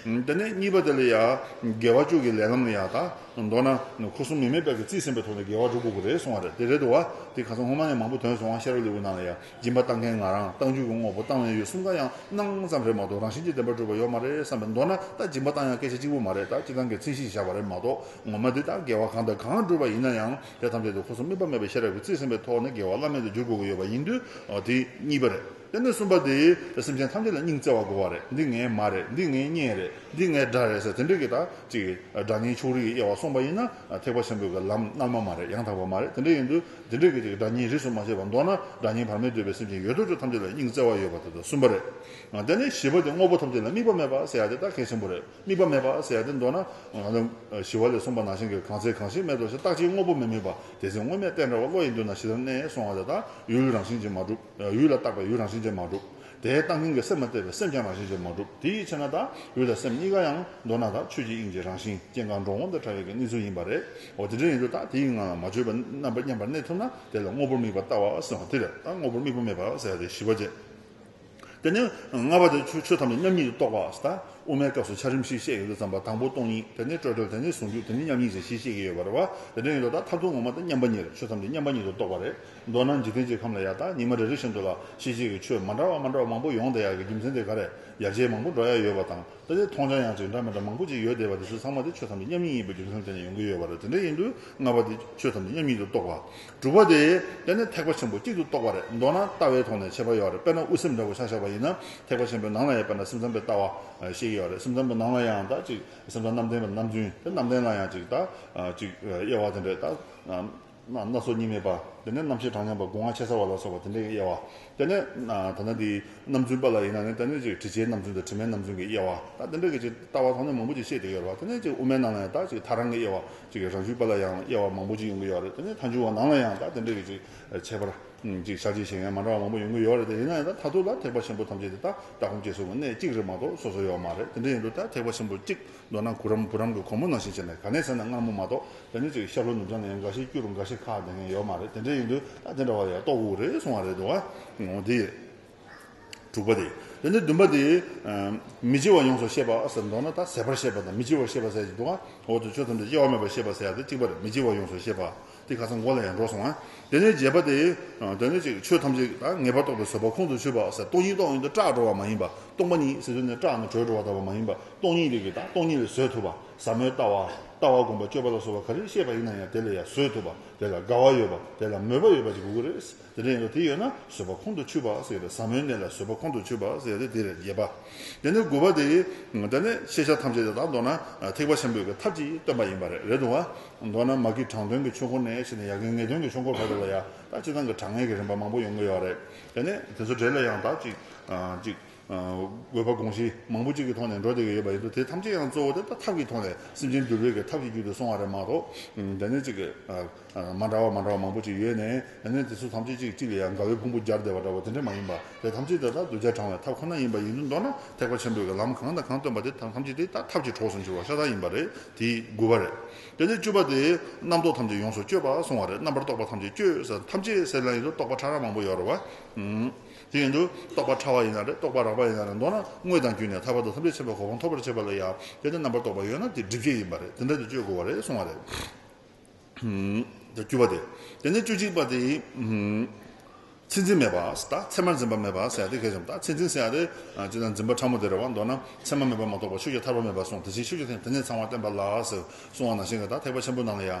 འདི་ནས་གཉིས་པ་དེ་ལ་ཡང་དགེ་བ་བཅུ་གི་ལས་ལམ་ལ་ཡང་དང་མདོར་ན་ཁུ་སུམ་མེ་མེད་དཔལ་གྱི་རྩིས་ཟིན་པའི་ཐོག་ནས་དགེ་བ་དྲུག་དགོས་པ་རེད་གསུང་བ་རེད་དེ་རེད་འདུག་བ་དེ་ག་ཚོད་སྔོན་མ་ནས་མང་པོ་དོན་བཟུང་བ་ཤེར་བ་ལེའུ་ནང་ལ་ཡང་སྦྱིན་པ་གཏང་མཁན་ང་རང་གཏང་རྒྱུ་གི་དངོས་པོ་གཏང་བའི་ཡོད་གསུམ་ག་ཡང་སྣང་ཙམ་རེད་མ་གཏོགས་རང་བཞིན་གྱི་བདེན་པ་སྤྲོས་པ་ཡོད་མ་རེད་བསམ་པས་མདོར་ན་ད་སྦྱིན་པ་གཏང་ཡང་སྐད་ཆ་གཅིག་པུ་མ་རེད་ད་སྤྱི་བཏང་གི་ཚིག་བཞིན་བཞག་པ་རེད་མ་གཏོགས་ངོ་མ་འདི་ལྟར་དགེ་བ་གང་དང་གང་བསྒྲུབས་པ་ཡིན་ན་ཡང་དེ་ཐམས་ཅད་དུ་ཁུ་སུམ་དམིགས་པ་མེད་པའི་ཤེས་རབ་ཀྱི་རྩིས་ཟིན་པའི་ཐོག་ནས་དགེ་བ་བླ་མེད་དུ་འགྱུར་དགོས་ཀྱི་ཡོད་པ་ཡིན་དུས་དེ་གཉིས་པ་རེད། དེ་ནས་གསུམ་པ་དེ། སེམས་ཅན་ཐམས་ཅད་ལ་སྙིང་བརྩེ་བ་དགོས་པ་རེད། འདི་ངའི་མ་རེད། འདི་ངའི་གཉེན་རེད། འདི་ངའི་དགྲ་རེད་ཟེར་དེ་འདྲས་ཀྱི་དག་ཅིག་གིས་དགྲ་གཉེན་ཕྱོགས་རིས་ཀྱི་དབྱེ་བ་སོང་པ་ཡིན་ན། ཐེག་པ་ཆེན་པོའི་གི་ལམ་སྔར་མ་མ་རེད་ཡང་དག་པ་མ་རེད་དེ་འདྲས་ཡིན་དུས། དེ་འདྲས་ཀྱི་ཅིག་དགྲ་གཉེན་རིས་སུ་མ་ཆད་པར་འདོར་ན་དགྲ་གཉེན་བར་མེད་འདོད་པའི་སེམས་ཅན་ཡོད་དོ་ཅོག་ཐམས་ཅད་ལ་སྙིང་བརྩེ་བ་ཡོད་པ་དེ་དག་གསུམ་པ་རེད། དེ་ནས་བཞི་པ་དེ་དངོས་པོ་ཐམས་ཅད་ལ་དམིགས་པ་མེད་པ་ཟེར་ཡ་དེ་དག་གལ་ཆེན་པོ་རེད་དམིགས་པ་མེད་པ་ཟེར་ཡ་དེ་འདོར་ན། བཞི་བ་ལས་གསུམ་པ་ནང་བཞིན་གྱི་གང་ཚེ་གང་ཞིག་མེད་དོ་ཞེས་རྟག་ཅིང་དངོས་པོ་མི་དམིགས་པ་དེ་ཚེ་དངོས་མེད་གཏན་འདྲ་བ་བློ་ཡི་མདུན་ན་ཞི་དར་གནས་སོང་བ་དེ་དག་ཡུལ་རང་བཞིན་ཅིག་མ་གྲུབ། ཡུལ་ལ་བཏགས་པའི་ཡུལ་རང་བཞིན་ཅན་མ་གྲུབ། དེའི་བཏགས་འཛིན་གྱི་སེམས་ལ་བལྟས་པའི་སེམས་ཀྱང་རང་བཞིན་ཅན་མ་གྲུབ། དེའི་ཕྱིར་ན་དང་ཡུལ་དང་སེམས་གཉིས་ཀ་ཡང་མདོར་ན་དང་ཆོས་ཀྱི་དབྱིངས་ཀྱི་རང་བཞིན་ཅན་གང་འགྲོ་འོང་དང་འཁྲ་བའི་གནས་ཚུལ་ཡིན་པ་རེད། འོ་དེ་འདྲའི་ཡིན་དུས་དང་དེའི་ངང་ལ་མ་བཅོས་པའི་རྣམ་པ་མཉམ་པར་གནས་ཐུབ་ན་དེ་ལ་དངོས་པོར་དམིགས་པ་བཏགས་བ་ཟེར་བ་དེ་ལྟར་དང་དངོས་པོར་དམིགས་པ་མེད་པ་ཟེར་བ་དེ་བཞི་བ་བཅས། དེ་ནི་ལྔ་པ་དེ་ཆོས་ཐམས་ཅད་མཉམ་ཉིད་དུ་རྟོགས་པ་ཟེར། དབུ་མའི་སྐབས་སུ་ཆ་རིམ་བཞི་བཤད་ཡོད་དུ་བརྩམས་པ་དང་པོ་སྟོང་ཉིད་དེ་ནི་སྤྲོས་བྲལ་དེ་ནི་ཟུང་འཇུག་དེ་ནི་མཉམ་ཉིད་ཅེས་བཞི་བཤད་ཀྱི་ཡོད་པ་རེད། འོ་དེ་འདྲ་ཡིན་དུས་དང་མཐར་ཐུག་ངོ་མ་དང་མཉམ་པ་ཉིད་ལ་ཆོས་ཐམས་ཅད་མཉམ་པ་ཉིད་དུ་རྟོགས་པ་རེད། མདོར་ན་འཇིག་རྟེན་གྱི་ཁམས་ལ་ཡང་དག་ཉི་མ་རེ་རེ་བཞིན་དུ་ལ་ཤེས་བྱེད་ཀྱི་ཆོས་མ་འདྲ་བ་མ་འདྲ་བ་མང་པོ་ཡོང་བསྡད་ཡག་གི་རྒྱུ་མཚན་དེ་ག་རེ་ཡར་རྒྱས་མང་པོ་འགྲོ་ཡག་ཡོད་པ་དང་ད་ཆའི་མཐོང་བྱ་ཡང་གཅིག་འདྲ་མི་འདྲ་མང་པོ་ཅིག་ཡོད་བསྡད་པ་དེ་ཚོས་ཚང་མ་དེ་ཆོས་ཐམས་ཅད་མཉམ་ཉིད་ཡིན་པའི་རྒྱུ་མཚན་དེ་ནས་ཡོང་གི་ཡོད་པ་རེད་དེ་འདྲ་ཡིན་དུས་ལྔ་པ་དེ་ཆོས་ཐམས་ཅད་མཉམ་ཉིད་དུ་རྟོགས་པ་དྲུག་པ་དེ་དེ་ནི་ཐེག་པ་ཆེན་པོ་གཅིག་ཏུ་རྟོགས་པ་རེད་མདོར་ན་ལྟ་བའི་ཐོག་ནས་འཆད་པ་ཡོད་རེད་དཔེར་ན་དབུ་སེམས་འདྲ་པོ་ཆགས་ཆགས་པ་ཡིན་ན་ཐེག་པ་ཆེན་པོའི་ནང་ལ་ཡང་དཔེར་ན་སེམས་ཙམ་པའི་ལྟ་བ་ཞིག་ཡོད་རེད་སེམས་ཙམ་པོ་ནང་ལ་ཡང་དག་ཅིག་སེམས་ཙམ་རྣམ་བདེན་པ་རྣམ་བདུན་དེ་རྣམ་བདེན་ལ་ཡང་གཅིག་དག་གཅིག་དབྱེ་བ་དེ་འདྲས་དག་ན་སྣ་ཚོགས་གཉིས་མེད་པ། དེ་ནས་རྣམ་ཤེས་གྲངས་མཉམ་པ་སྒོ་ང་ཕྱེད་ཚར་བ་ལ་སོགས་པ་དེ་འདྲའི་དབྱེ་བ། དེ་ནས། ད་ནི་དེའི་རྣམ་རྫུན་པ་ལ་ཡིན་ན་ནི་དེ་ནས་ཅིག་དྲི་ཆའི་རྣམ་རྫུན་དང་དྲི་མའི་རྣམ་རྫུན་གྱི་དབྱེ་བ། ད་དེ་འདྲ་གི་ཅིག་ལྟ་བ་ཐོག་ནས་མང་པོ་ཅིག་བཤད་དེ་ཡོད་པ། དེ་ནས་ཅིག་དབུ་མའི་ནང་ལ་ཡང་དག་ཅིག་མཐའ་རང་གི་དབྱེ་བ། ཅིག་རང་བྱུང་པ་ལ་ཡང་དབྱེ་བ་མང་པོ་ཅིག་ཡོང་གི་ཡོད་རེད། དེ་ནས་མཐའ་འབྱུང་བ་ནང་ལ་ཡང་དག་དེ་འདྲ་གི་ཅིག་ཁྱད་པར། ཅིག་ཆ་ཅིག་གཞན་ཡང་མ་འདྲ་བ་མང་པོ་ཡོང་གི་ཡོད་རེད་དེ་ཡིན་ན་ཡང་དག་མཐའ་ཐུག་ལ་ཐེག་པ་ཆེན་པོ་ཐམས་ཅད་དེ་དག་སྒྲ་སྒོམ་སྐྱེ་གསུམ་གྱི་གནད་གཅིག་རེད་མ་གཏོགས་སོ་སོ་ཡོད་མ་རེད་དེ་འདྲ་ཡིན་དུས་ད་ཐེག་པ་ཆེན་པོ་གཅིག་མདོར་ན་གུ་རམ་བུ་རམ་གྱི་གོར་མོ་ནང་བཞིན་བྱས་ནས་ག་ནས་ཟེར་ན་སྔ་མོ་མ་གཏོགས་རང་ཉིད་ཚོ་ཡི་ཤར་ལྷོ་ནུབ་བྱང་ནས་ཡང་འགའ་ཞིག་སྐྱུ་རུ་འགའ་ཞིག་ཁ་བསྡད་མཁན་ཡོད་མ་རེད་དེ་འདྲ་ཡིན་དུས་ད་དེ་འདྲ་བ་ཡ་ལྟོགས་དགོས་རེད་གསུང་བ་རེད་འདུག་བ། འོ་དེ་དྲུག་པ་དེ། དེ་ནས་བདུན་པ་དེ། མི་སྐྱེ་བ་ཡོངས་སུ་ཤེས་པ་ཟེར་མདོར་ན་ད་ཟད་པར་ཤེས་པ་དང་མི་སྐྱེ་བར་ཤེས་པ་ཟེར་གྱི་འདུག་བ། འོ་དེ་ཆོས་ཐམས་ཅད་སྐྱེ་བ་མེད་པར་ཤེས་པ་ཟེར་ཡ་དེ་གཅིག་པར་མི་སྐྱེ་བ་ཡོངས་སུ་ཤེས་པ། དེ་ག་ཚོད་འགོ་ལ་ཡང་འགྲོ་སོང་ང། དེ་ནས་རྗེས་པ་དེ། དེ་ནས་ཅིག་ཆོས་ཐམས་ཅད་ངེས་པར་རྟོགས་པའི་བཟོད་པ་ཁོང་དུ་ཆུད་པ། སྟོང་ཉིད་རྟོགས་ཡོན་དུ་སྐྲག་འགྲོ་བ་མ་ཡིན་པ། སྟོང་པ་ཉིད་ཟེར་དོན་ནི་སྐྲག་ནས་གྲོལ་འགྲོ་བ་དག་པ་མ་ཡིན་པ། སྟོང་ཉིད་རིག་པའི་དང་སྟོང་ཉིད་ལ་བཟོད་ཐུབ་པ། ཟབ་མོའི་ལྟ་བ། ལྟ་བ་བསྒོམ་པ་སྤྱོད་པ་ལ་སོགས་པ་ག་རེ་བཤད་པ་ཡིན་ན་ཡང་དེ་ལ་ཡང་བཟོད་ཐུབ་པ། དེ་ལ་དགའ་བ་ཡོད་པ་དེ་ལ་མོས་པ་ཡོད་པ་ཅིག་དགོས་ཀྱི་རེད། དེ་ལས་འགྲོ་དེ་ཡོད་ན་བཟོད་པ་ཁོང་དུ་ཆུད་པ་ཟེར་བས་ཟབ་མོའི་གནས་ལ་བཟོད་པ་ཁོང་དུ་ཆུད་པ་ཟེར་ཏེ་འདིར་རྒྱས་པ། དེ་ནས་དགུ་བ་དེ། དེ་ནི་ཤེས་བྱ་ཐམས་ཅད་དེ་དག་མདོར་ན་ཐེག་པ་ཆེན་པོའི་གི་ཐབས་ཀྱིས་སྟོན་པ་ཡིན་པ་རེད་རེད་འདུག་བ། མདོར་ན་མ་གི་དྲང་དོན་གྱི་ཆོས་འཁོར་ནས་ཕྱིན་ནས་ཡ་གི་ངེས་དོན་གྱི་ཆོས་འཁོར་བར་དུ་ལ་ཡང་དག་གཅིག་ཚང་གི་དྲང་ངེས་ཀྱི་རིམ་པ་མང་པོ་ཡོང་གི་ཡོད་རེད། དེ་ནས་དེ་ཚོ་འདྲེས་ལ་ཡང་དག་ཅིག། དགོས་པ་དགོངས་གཞི་མང་པོ་གཅིག་གི་ཐོག་ནས་འགྲོ་བསྡད་ཀྱི་ཡོད་པ་ཡིན་འདུག་དེ་ཐམས་ཅད་ཡང་གཙོ་བོ་དེ་ལྟ་ཐབས་ཀྱི་ཐོག་ནས་སེམས་ཅན་འདུལ་བའི་གི་ཐབས་ཀྱི་རྒྱུད་དུ་སོང་བ་རེད་མ་གཏོགས། དེ་ནས་ཅིག། མ་འདྲ་བ་མ་འདྲ་བ་མང་པོ་ཅིག་ཡོད་ནས་དེ་ནས་དེ་ཚོ་ཐམས་ཅད་ཅིག་གཅིག་ལ་ཡང་དགའ་བའི་ཕུང་པོ་སྦྱར་བསྡད་པ་འདྲ་བོ་དེ་འདྲ་མ་ཡིན་པ། དེ་ཐམས་ཅད་དེ་དག་གདུལ་བྱ་དྲང་བའི་ཐབས་ཁོ་ན་ཡིན་པ་ཡིན་དུ་མདོར་ན་ཐེག་པ་ཆེན་པོའི་གི་ལམ་གང་དང་གང་སྟོན་པ་དེ་དག་ཐམས་ཅད་དེ་ལྟ་ཐབས་ཀྱི་གྲོགས་སུ་འགྱུར་བ་ཤ་སྟག་ཡིན་པ་རེད་དེ་དགུ་བ་རེད། དེ་ནས་བཅུ་བ་དེ། རྣམ་རྟོག་ཐམས་ཅད་ཡོངས་སུ་གཅོད་པ་སོང་བ་རེད་རྣམ་པར་རྟོག་པ་ཐམས་ཅད་གཅོད། ཐམས་ཅད་སེལ་ན་ཡིན་དུ་རྟོག་པ་ཕྲ་རགས་མང་པོ་ཡོད་རེད་བ། དེ་བཞིན་དུ་རྟོག་པ་ཕྲ་བ་ཡིན་ན་རེ་རྟོག་པ་རགས་པ་ཡིན་ན་རེ་མདོར་ན་དངོས་དང་བརྒྱུད་ནས་ཐར་བ་དང་ཐམས་ཅད་བྱེད་པའི་གོ་འཕང་ཐོབ་པར་བྱེད་པ་ལ་ཡང་དེ་ལྟར་རྣམ་པར་རྟོག་པ་ཡོད་ན་དེ་སྒྲིབ་བྱེད་ཡིན་པ་རེད་དེ་འདྲ་དེ་གཅོད་དགོས་པ་རེད་གསུང་བ་རེད། བརྒྱུད་པ་དེ་དེ་ནས་བཅུ་གཅིག་པ་དེ། ཚད་འཛིན་མེད་པ་དང་ཚད་མར་འཛིན་པ་མེད་པར་བསལ་ཏེ་གལ་ཆེན་པོ་དང་ཚད་འཛིན་བསལ་ཏེ། ཅི་ལྟར་འཛིན་པ་ཕྲ་མོ་དེ་རེ་བ་མདོར་ན་ཚད་མ་མེད་པར་མ་རྟོགས་པར་ཆོས་ཀྱི་ཐར་པ་མེད་པར་གསུངས་དེ་བཞིན་ཆོས་ཀྱི་དེ་ནས་ཚང་བ་བསྟན་པ་ལགས་ཟེར་གསུང་བ་ནང་བཞིན་གྱི་དང་ཐེག་པ་ཆེན་པོའི་ནང་ལ་ཡང་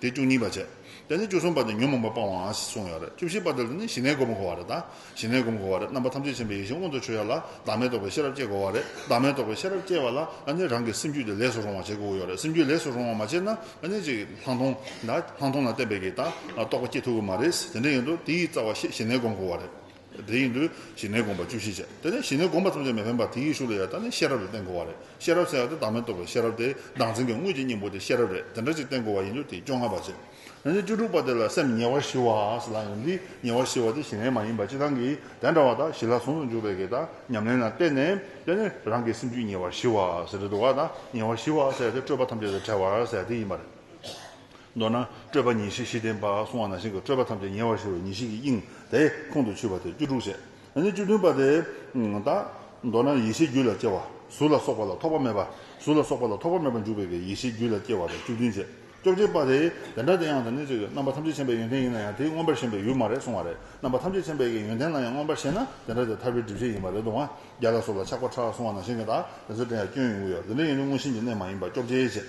དེ་བཅུ་གཉིས་པ་བྱེད། དེ་ནས་བཅུ་གསུམ་པ་དེ་ཉོན་མོངས་པ་སྤང་བའང་གསུངས་ཡོད་རེད་བཅུ་བཞི་པ་དེ་ལ་ནི་ཞི་གནས་སྒོམ་དགོས་བ་རེད་ད། ཞི་གནས་སྒོམ་དགོས་བ་རེད་རྣམ་པ་ཐམས་ཅད་ཕྱིན་པའི་ཡེ་ཤེས་མངོན་དུ་ཆུད་ཡ་ལ་བདག་མེད་རྟོགས་པའི་ཤེས་རབ་སྐྱེ་དགོས་བ་རེད་བདག་མེད་རྟོགས་པའི་ཤེས་རབ་སྐྱེས་བ་ལ་ནི་རང་གི་སེམས་རྒྱུད་དེ་ལེགས་སུ་རུང་བ་བྱེད་དགོས་ཀྱི་ཡོད་རེད་སེམས་རྒྱུད་ལེགས་སུ་རུང་བ་མ་བྱས་ན་ནི་ཅིག་ལྷག་མཐོང་ལྷག་མཐོང་ལ་བརྟེན་པའི་གི་ད་རྟོགས་པ་སྐྱེ་ཐུབ་ཀྱི་མ་རེད་ཟེར་དེ་འདྲ་ཡིན་དུ་དེའི་རྩ་བ་ཞི་གནས་སྒོམ་དགོས་བ་རེད། དེ་ཡིན་དུས་ཞི་གནས་དགོངས་པ་བཅུ་བཞི་བྱས་དེ་ནས་ཞི་གནས་དགོངས་པ་ཐམས་ཅད་མི་ཕན་པར་དེ་ཡི་ཤུགས་ལ་ཡར་བཏང་ནས་ཤེས་རབ་ལ་བརྟེན་དགོས་བ་རེད་ཤེས་རབ་ཟེར་བ་དེ་བདག་མེད་རྟོགས་པའི་ཤེས་རབ་དེ་བདག་འཛིན་གྱི་དངོས་ཀྱི་སྙིང་པོ་དེ་ཤེས་རབ་རེད་དེ་འདྲ་ཅིག་བརྟེན་དགོས་བ་ཡིན་དུས་དེ་བཅོ་ལྔ་པ་བྱས་དེ་ནས་བཅུ་དྲུག་པ་དེ་ལ་སེམས་ཉེ་བར་ཞི་བ་ཞེས་ལ་ཡང་འདི་ཉེ་བར་ཞི་བ་དེ་ཞི་གནས་མ་ཡིན་པར་སྤྱི་དང་གི་དེ་འདྲ་བ་དག་ཞི་ལ་ཟུང་དུ་འཇུག་པའི་གེགས་དང་ཉམས་ལེན་ལ་བརྟེན་ནས་དེ་ནས་རང་གི་སེམས་རྒྱུད་ཉེ་བར་ཞི་བ་ཟེར་དེ་དུ་བ་དང་ཉེ་བར་ཞི་བ་ཟེར་དེ་སྤྲོས་པ་ཐམས་ཅད་དང་བྲལ་བར་ཟེར་དེ་ཡིན་པ་རེད། མདོར་ན་སྤྲོས་པ་ཉིད་ཤེས་བཞི་ལྡན་པ་གསུང་བ་ན་ཞིང་གི་སྤྲོས་པ་ཐམས་ཅད་ཉེ་བར་ཞི་བའི་ཉིད་ཤེས་ཀྱི་དབྱིངས་དེ་ཁོང་དུ་ཆུད་པ་དེ་བཅུ་དྲུག་བཤད། ཡང་ན་བཅུ་བདུན་པ་དེ་དག། མདོར་ན་ཡེ་ཤེས་རྒྱུད་ལ་སྐྱེ་བ་གཟུགས་ལ་སོགས་པ་ལ་ཐོགས་པ་མེད་པ། གཟུགས་ལ་སོགས་པ་ལ་ཐོགས་པ་མེད་པར་འཇུག་པའི་ཡེ་ཤེས་རྒྱུད་ལ་སྐྱེ་བ་དང་བཅུ་བདུན་བཤད། བཅོ་བརྒྱད་པ་དེ་དེ་འདྲ་དེ་ཡང་དང་ནི་གཅིག་གི་རྣམ་པ་ཐམས་ཅད་མཁྱེན་པའི་ཡོན་ཏན་ཡིན་ན་ཡང་དེའི་མངོན་པར་ཞེན་པའི་ཡུལ་མ་རེད་གསུང་བ་རེད། རྣམ་པ་ཐམས་ཅད་མཁྱེན་པའི་ཡོན་ཏན་ལ་ཡང་མངོན་པར་ཞེན་ན་དེ་འདྲ་དེ་ཐར་པའི་སྒྲིབ་བྱེད་ཡིན་པ་རེད་དུ་མ་རྒྱ་ལ་སོགས་ལ་ཆགས་པ་ཕྲ་གསུང་བ་ན་ཞིང་གི་དག་དེ་ཚུལ་ཁྲིམས་ཡང་སྐྱོན་ཡིན་དབུལ་ཡོད་དེ་འདྲ་ཡིན་ནི་མངོན་ཞེན་གྱི་གནས་མ་ཡིན་པ་བཅོ་བརྒྱད་བཤད།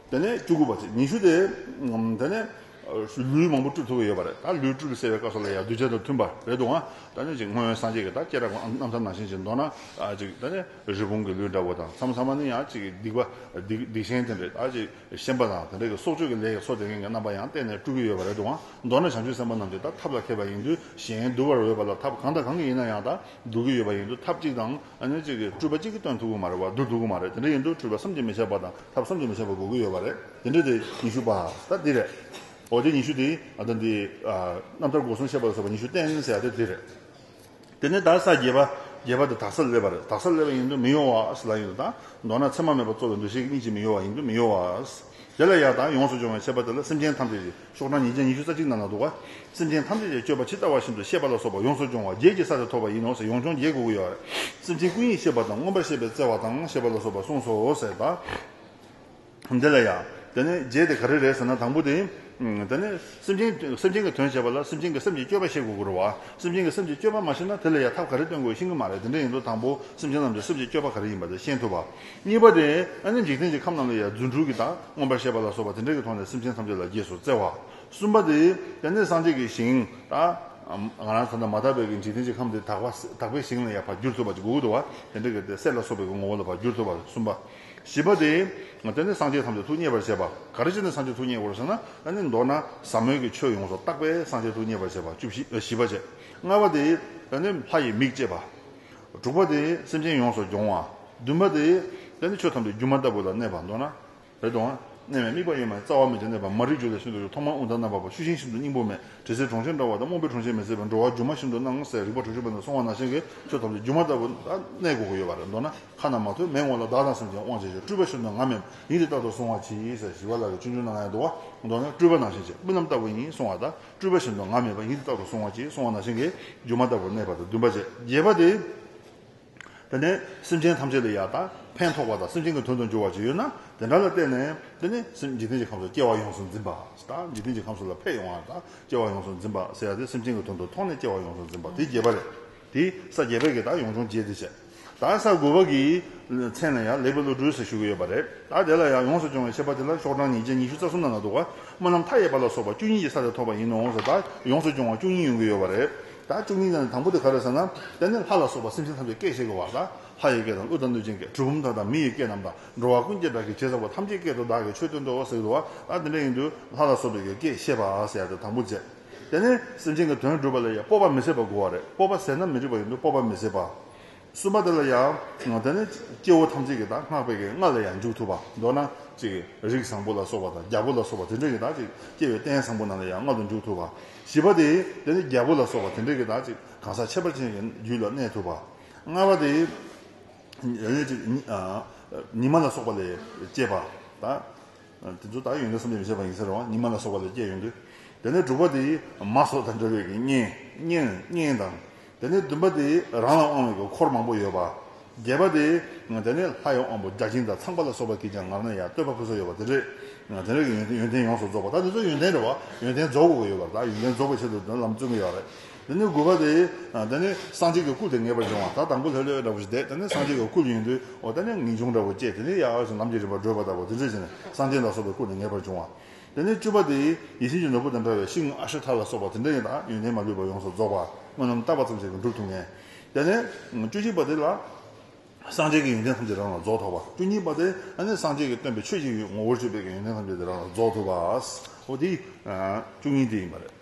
དེ་ནས་བཅུ་དགུ་པ་ཚེས་ཉི་ཤུ་སྟེ། དེ་ནས། ལུས་མང་པོ་བཀྲུ་ཐུབ་པ་ཡོད་པ་རེད་ད་ལུས་བཀྲུ་བའི་སེལ་བའི་བཀའ་སོགས་ལ་ཡང་གདུལ་བྱ་དང་མཐུན་པ་རེད་འདུག་ཨང་ད་ནི་ཅིག་སྔོན་སངས་རྒྱས་ཀྱི་ད་སྐྱེས་རབས་ཀྱི་གནམ་ས་ནང་བཞིན་ཅིག་མདོར་ན། ཅིག་ད་ནི་རི་བོང་གི་ལུས་འདྲ་བོ་དང་མཚམས་ཚང་མ་ནི་ཡང་ཅིག་སྡིག་པ། སྡིག་ཆེན་དེ་འདྲས་ད་ཅིག་ཤན་པ་དང་དེ་འདྲས་ཀྱི་སྲོག་གཅོད་ཀྱི་ལས་ཀྱི་སོ་དེ་མཁན་གྱི་རྣམ་པ་ཡང་གཏན་ནས་བཀྲུ་གི་ཡོད་པ་རེད་འདུག་ཨང་མདོར་ན་བྱང་ཆུབ་སེམས་དཔའ་རྣམས་ཀྱི་ད་ཐབས་ལ་མཁས་པ་ཡིན་དུས་གཞན་གདུལ་བར་འོས་པ་ལ་ཐབས་གང་དང་གང་གིས་ཡིན་ན་ཡང་ད་གདུལ་གྱི་ཡོད་པ་ཡིན་དུས་ཐབས་གཅིག་དང། ཅིག་བཀྲུས་པ་གཅིག་གིས་སྟོན་ཐུབ་ཀྱི་མ་རེད་བ་བསྡུ་ཐུབ་ཀྱི་མ་རེད་དེ་འདྲས་ཡིན་དུས་བཀྲུས་པ་བསམ་གྱིས་མི་ཁྱབ་པ་དང། ཐབས་བསམ་གྱིས་མི་ཁྱབ་པ་དགོས་ཀྱི་ཡོད་པ་རེད། དེ་འདྲ་དེ་ཉི་ཤུ་པ། ད་འདི་རེད། འོ་དེ་ཉི་ཤུ་དེ་ད་འདི། རྣམ་ཐར་སྒོ་གསུམ་ཤེས་པ་ཟེར་བ་ཉི་ཤུ་བསྟན་ཟེར་ཡག་དེ་འདི་རེད། དེ་ནས་ད་ས་བརྒྱད་པ། བརྒྱད་པ་དེ་དག་སར་སླེབས་པ་རེད། དག་སར་སླེབས་པ་ཡིན་དུས་མི་གཡོ་བ། ལ་ཡིན་དུ་ད། མདོར་ན་མཚན་མ་མེད་པར་རྩོལ་བའི་འདུ་ཤེས་གཉིས་ཀྱིས་མི་གཡོ་བ་ཡིན་དུས་མི་གཡོ་བ། དེ་ལ་ཡང་ད་ཡོངས་སུ་སྦྱོང་བའི་ཆད་པ་དེ་ལ་སེམས་ཅན་ཐམས་ཅད་ཀྱི། ཕྱོགས་གྲངས་ཉིས་བརྒྱ་ཉི་ཤུ་རྩ་གཅིག་རྣམས་ལ་འདུག་པ། སེམས་ཅན་ཐམས་ཅད་ཀྱི་སྤྱོད་པ་ཇི་ལྟ་བ་བཞིན་དུ་ཤེས་པ་ལ་སོགས་པ་ཡོངས་སུ་སྦྱོང་བ་བརྒྱད་ཀྱི་ས་དེ་ཐོབ་པ་ཡིན་ནོ་ཟེར་ཡོངས་སྦྱོང་བརྒྱད་དགུ་དགུ་ཡོད་རེད། སེམས་ཅན་ཀུན་ཡིད་ཤེས་པ་དང་མངོན་པར་ཤེས་པའི་བརྩེ་བ་དང་ཞེས་པ་ལ་སོགས་པ་གསུངས་སོ་ཟེར། འདི་ལ་ཡང། དེ་ནི་བརྒྱད་དེ་ག་རེ་རེད་ཟེར་ན་དང་པོ་དེ། དེ་ནི། སེམས་ཅན་གྱི་སེམས་ཅན་གྱི་དོན་བྱེད་པ་ལ་སེམས་ཅན་གྱི་སེམས་ཀྱི་སྤྱོད་པ་ཤེས་དགོས་དགོས་རུང་བ། སེམས་ཅན་གྱི་སེམས་ཀྱི་སྤྱོད་པ་མ་ཤེས་ན་དེ་ལ་ཡང་ཐབས་ག་རེ་སྟོན་དགོས་ཤེས་ཀྱི་མ་རེད་དེ་འདྲ་ཡིན་དུ་དང་པོ་སེམས་ཅན་རྣམས་ཀྱི་སེམས་ཀྱི་སྤྱོད་པ་ག་རེ་ཡིན་པ་དེ་ཤེས་ཐུབ་པ། གཉིས་པ་དེ་ཨ་ནི་འཇིག་རྟེན་གྱི་ཁམས་རྣམས་ལ་ཡང་རྫུ་འཕྲུལ་གྱིས་བདག་མངོན་པར་ཤེས་པ་ལ་སོགས་པ་དེ་འདྲ་གྱིས་མཐོང་ནས་སེམས་ཅན་ཐམས་ཅད་ལ་རྗེས་སུ་བརྩེ་བ། གསུམ་པ་དེ་ཡང་ནི་སངས་རྒྱས་ཀྱི་ཞིང་དང། ང་རང་གང་དུ་མ་དག་པའི་གྱི་འཇིག་རྟེན་གྱི་ཁམས་དེ་དག་དག་པའི་ཞིང་ལ་ཡང་བར་འགྱུར་ཐོབ་པ་ཅིག་གུ་གུ་དུ་བ་དེ་འདྲ་གྱིས་ཏེ་སྲས་ལ་སོགས་པའི་གྱི་ངོ་བོ་ལ་བར་འགྱུར་ཐོབ་པ་གསུམ་པ། བཞི་པ་དེ་ཡང་ནི་སངས་རྒྱས་ཐམས་ཅད་ཐུགས་མཉེས་པར་བྱེད་པ། ག་རེ་ཅི་ནས་སངས་རྒྱས་ཐུགས་མཉེས་དགོས་སོ་ན་ཨ་ནི་མདོར་ན་ཟབ་མོའི་གྱི་ཆོས་ཡོངས་སུ་བརྟགས་པས་སངས་རྒྱས་ཐུགས་མཉེས་པར་བྱེད་པ་བཅུ་བཞི་བཞི་པ་བཅས། ལྔ་པ་དེ་ཡང་ནི་ལྷ་ཡི་མིག་ཅེས་པ། དྲུག་པ་དེ་སེམས་ཅན་ཡོངས་སུ་སྦྱོང་བ། བདུན་པ་དེ། དེ་ནི་ཆོས་ཐམས་ཅད་སྒྱུ་མ་ལྟ་བུ་ལ་གནས་པར་འདོད་ན། རེ་དོགས། གནས་མེད་དམིགས་པ་ཡོད་མེད་རྩ་བ་མེད་ཅིང་གནས་པ་མ་རིག་འགྱུ་ལས་ཤིན་ཏུ་གཡོ་ཐོག་མར་དབུགས་ལྡང་རྣམ་པར་བབ་ཤུགས་ཤིང་ཤིན་ཏུ་སྙིང་པོ་མེད་དྲི་ཟའི་གྲོང་ཁྱེར་འདྲ་བ་དང་རྨོངས་པའི་གྲོང་ཁྱེར་མེད་ཟད་པའི་འགྲོ་བ་སྒྱུ་མ་ཤིན་ཏུ་སྣང་ངོ་ཟད་རིག་པ་དྲུག་ཅུ་པོ་དང་སོང་བ་ནང་བཞིན་གྱི་ཆོས་ཐམས་ཅད་སྒྱུ་མ་ལྟ་བུ་ལ་གནས་དགོས་ཀྱི་ཡོད་པར་འདོད་ན་ཁ་ན་མ་ཐོས་མེད་ངོ་ལ་བདག་དང་སེམས་ཅན་དབང་བྱེད་ཅིང་སྤྲུལ་པ་བཞིན་དུ་ང་མེད་ཡིན་ཏེ་རྟག་ཏུ་གཟུང་བར་བྱེད་ཡིན་ཟེར་ཞི་བ་ལ་ལས་ཆུང་ཆུང་ན་ང་ཡང་འདུག་བ་མདོར་ན་སྤྲུལ་པ་ནང་བཞིན་བྱེད་རྨི་ལམ་ལྟ་བུ་ཡིན་གསུང་བ་ལྟར། སྤྲུལ་པ་བཞིན་དུ་ང་མེད་པ་ཉིད་དུ་རྟག་ཏུ་སོང་བ་ཅིག་སོང་བ་ན་ཤིང་གི་རྒྱུ་མ་དག་པར་གནས་པ་དང་འདུན་པ་བཅས་རྒྱས་པ་དེ། དེ་ནས་སེམས་ཅན་ཐམས་ཅད་ལ་ཡང་དག་ཕན་ཐོགས་པ་དང་སེམས་ཅན་གྱི་དོན་དུ་འགྱུར་བ་ཅིག་ཡོད་ན་དེ་འདྲ་ལ་བརྟེན་ནས། དེ་ནི་སེམས་འཇིག་རྟེན་གྱི་ཁམས་སུ་སྐྱེ་བ་ཡོངས་སུ་འཛིན་པ་དང་འཇིག་རྟེན་གྱི་ཁམས་སུ་ལ་ཕས་ཡོང་བ་དང་སྐྱེ་བ་ཡོངས་སུ་འཛིན་པ་སེལ་ཡ་སྟེ་སེམས་ཅན་གྱི་དོན་དུ་མཐོང་ནས་སྐྱེ་བ་ཡོངས་སུ་འཛིན་པ་དེ་རྒྱས་པ་ལས། དེས་ས་བརྒྱད་པའི་གེགས་དང་ཡོངས་སྦྱོང་རྒྱས་འདི་བྱས། ད་ས་དགུ་བ་གི་ཚེས་ན་ཡང་ལེགས་པའི་བློ་གྲོས་སུ་བཞུགས་ཡོད་པ་རེད་ད་དེ་ལ་ཡང་ཡོངས་སུ་སྦྱོང་བའི་ཆད་པ་དེ་ལ་ཤོག་གྲངས་ཉིས་བརྒྱ་ཉི་ཤུ་རྩ་གསུམ་ན་ན་འདུག་སྨོན་ལམ་མཐའ་ཡས་པ་ལ་སོགས་པ་བཅུ་གཉིས་ཀྱི་ས་ལས་ཐོབ་པ་ཡིན་ནོ་ཟེར་ད་ཡོངས་སུ་སྦྱོང་བ་བཅུ་གཉིས་ཡོང་གི་ཡོད་པ་རེད་ད་བཅུ་གཉིས་ཀྱང་དང་པོ་དེ་ག་རེད་ཟེར་ན་དེ་ནི་ལྷ་ལ་སོགས་པ་སེམས་ཅན་ཐམས་ཅད་སྐད་བཤད་ཀྱི་བར་ལ་ལྷ་ཡི་སྐད་དང་ཀླུ་དང་གནོད་སྦྱིན་སྐད་གྲུལ་བུམ་དག་དང་མི་ཡི་སྐད་རྣམས་དང་འགྲོ་བ་ཀུན་གྱི་བདག་གིས་བྱས་ཟེར་བ་ཐམས་ཅད་སྐད་དུ་བདག་གིས་ཆོས་སྟོན་ཏོ་ཟེར་གྱི་འདུག་ད་དེ་འདྲ་ཡིན་དུས་ལྷ་ལ་སོགས་པའི་གི་སྐད་བཤད་པ་ཟེར་ཡ་དེ་དང་པོ་རྗེ། དེ་ནས་སེམས་ཅན་གྱི་དོན་བསྒྲུབ་པ་ལ་ཡང་སྤོབས་པ་མི་ཟད་པར་བསྒོ་བ་རེད་སྤོབས་པ་ཟད་ན་མི་འགྲིག་པ་ཡིན་དུས་སྤོབས་པ་མི་ཟད་པ། གསུམ་པ་དེ་ལ་ཡང། དེ་ནས་སྐྱེ་བོ་ཐམས་ཅད་ཀྱི་དང་སྔགས་པའི་གེགས་ལྔ་ལ་ཡང་འཇུག་ཐུབ་པ་མདོར་ན་ཅིག། རིགས་བཟང་པོ་ལ་སོགས་པ་དང་རྒྱལ་པོ་ལ་སོགས་པ་དེ་འདྲས་ཀྱི་དང་ཅིག་སྐྱེ་བའི་རྟེན་བཟང་པོ་རྣམས་ལ་ཡང་མངལ་དུ་འཇུག་ཐུབ་པ། བཞི་པ་དེ། དེ་ནས་རྒྱལ་པོ་ལ་སོགས་པ་དེ་འདྲས་ཀྱི་དང་ཅིག་གང་ཟག་ཁྱད་པར་ཅན་གྱི་རྒྱུད་ལ་གནས་ཐུབ་པ། ལྔ་བ་དེ། ཉི་མ་ལ་སོགས་པ་ལས་སྐྱེས་པ་དང། དེ་ཚོ་དག་ཡོན་ཏན་གསུམ་ལས་མི་བྱེད་པ་ཡིན་ཟེར་རོ། ཉི་མ་ལ་སོགས་པ་ལས་སྐྱེས་ཡོང་དུས། དེ་ནས་དྲུག་པ་དེ་ཡིས་མ་སོགས་དང་འབྲེལ་བའི་གི་གཉེན། གཉེན། གཉེན་དང། དེ་ནས་བདུན་པ་དེ་ཡིས་རང་ལ་དབང་བའི་གི་འཁོར་མང་པོ་ཡོད་པ། བརྒྱད་པ་དེ་ཡིས། དེ་ནས་ལྷ་ཡི་དབང་པོ་བརྒྱ་བྱིན་དང་ཚངས་པ་ལ་སོགས་པ་གིས་ཀྱང་ངར་ན་ཡང་བསྟོད་པ་ཕུན་སུམ་ཡོད་པ་དེ་རེད། དེ་འདྲ་གི་ཡོན་ཏན་ཡོངས་སུ་རྫོགས་པ་དག་དེ་ཚོ་ཡོན་ཏན་རེད་བ། ཡོན་ཏན་རྫོགས་དགོས་ཀྱི་ཡོད་པ་རེད། ཡོན་ཏན་རྫོགས་པའི་ཆེད་དུ་ལམ་བརྩོན་གྱི་ཡོད་རེད། དེ་ནས་དགུ་པ་སྟེ། དེ་ནས་སངས་རྒྱས་ཀྱི་སྐུ་དེ་ངེས་པར་འབྱུང་བ་དག་དང་པོ་ལྷོད་ལྷོད་ལྟ་བུ་ཞིག་འདས་དེ་ནས་སངས་རྒྱས་ཀྱི་སྐུ་ཡིན་དུས་འོ་དེ་ནས་ངེས་འབྱུང་འདྲ་བོ་སྐྱེ་དེ་ནས་ཡང་ཡང་ཞིང་ལམ་གྱི་རིམ་པ་བགྲོད་པ་ལྟ་བུ་དེ་འདྲའི་ཕྱིར་སངས་རྒྱས་ལ་སོགས་པའི་སྐུ་དེ་ངེས་པར་འབྱུང་བ། དེ་ནས་བཅུ་པ་སྟེ། ཡིད་བཞིན་གྱི་ནོར་བུ་དང་འདྲ་བའི་ཤིང་ཨ་ཤོ་དྷ་ལ་སོགས་པ་དེ་འདྲ་ཡང་དག་ཡོན་ཏན་མ་ལུས་པ་ཡོངས་སུ་རྫོགས་པ་དངོས་རྣམ་བརྟགས་པ་ཙམ་ཞིག་གིས་འགྲུབ་ཐུབ་ངེས། དེ་ནས། བཅུ་གཅིག་པ་སྟེ། སངས་རྒྱས་ཀྱི་ཡོན་ཏན་ཐམས་ཅད་རང་ལ་རྫོགས་ཐོབ་པ། བཅུ་གཉིས་པ་སྟེ། དེ་ནས་སངས་རྒྱས་ཀྱི་སྟོན་པའི་ཆོས་ཀྱི་ངོ་བོར་སྤྱོད་པས་ཀྱི་ཡོན་ཏན་ཐམས་ཅད་དེ་རང་ལ་རྫོགས་ཐུབ་པ། འོ་དེ། བཅུ་གཉིས་དེ་ཡིན་པ་རེད།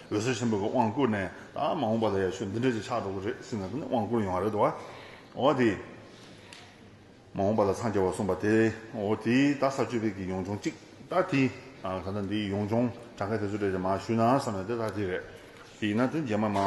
འོད་ཟེར་ཆེན་པོ་གི་དབང་བསྐུར་ནས་ད་མ་འོངས་པ་ལ་ཡང་ཆོས་འདི་འདྲ་ཞིག་ཆགས་འགྲོ་གི་རེད་ཟེར་ནས་དེ་ནས་དབང་བསྐུར་ཡོང་བ་རེད་དོ། འོ་དེས་མ་འོངས་པ་ལ་འཚང་རྒྱ་བར་གསུངས་པ་དེ་འོ་དེས་ད་ས་བཅུ་པའི་གི་ཡོངས་སྦྱོང་གཅིག་ད་དེས་ད་ལྟ་འདི་ཡི་ཡོངས་སྦྱོང་གྲངས་ཀ་དེ་ཚོ་དེ་རེད་མ་ཞུས་ན་བསམ་ནས་དེ་ད་དེ་རེད། དེ་ཡིན་ན་དོན་རྒྱས་མ་མ་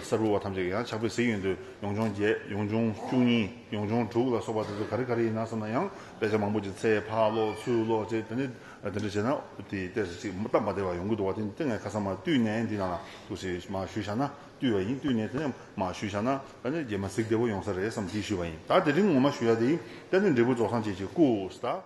ས་རུ་བ་ཐམས་ཅད་ཀྱི་ཡང་ཆགས་པའི་གཟིགས་ཡོད་འདུག་ཡོངས་སྦྱོང་བརྒྱད་ཡོངས་སྦྱོང་བཅུ་གཉིས་ཡོངས་སྦྱོང་དྲུག་ལ་སོགས་པ་དེ་ཚོ་ག་རེ་ག་རེ་ཡིན་ན་བསམ་ན་ཡང་དཔེ་ཆ་མང་པོ་ཅིག་ཚེ་འཕགས་ལོ་ཚུལ་ལོ་བཅས་དེ་ནས་དེ་འདྲ་བྱས་ན་དེའི་ལྟས་སུ་ཅིག་སྟབས་མ་བདེ་བ་ཡོང་གི་འདུག་བ་དེ་སྟེ་ངས་ཁ་སང་མ་བཏུས་ནས་འདི་ན་འདུག་ཟེར་གྱི་མ་ཞུས་བཞག་ན་བཏུས་བ་ཡིན་བཏུས་ནས་དེ་མ་ཞུས་བཞག་ན་ད་ནི་རྗེས་མ་གཟིགས་བདེ་བོ་ཡོང་ས་རེད་བསམ་གྱི་ཞུས་བ་ཡིན་ད་དེ་རིང་ངོ་མ་ཞུ་ཡག་དེ་ཡིན་ད་ནི་འབྲས་བུ་རྫོགས་སངས་རྒྱས་ཀྱི་སྐུ།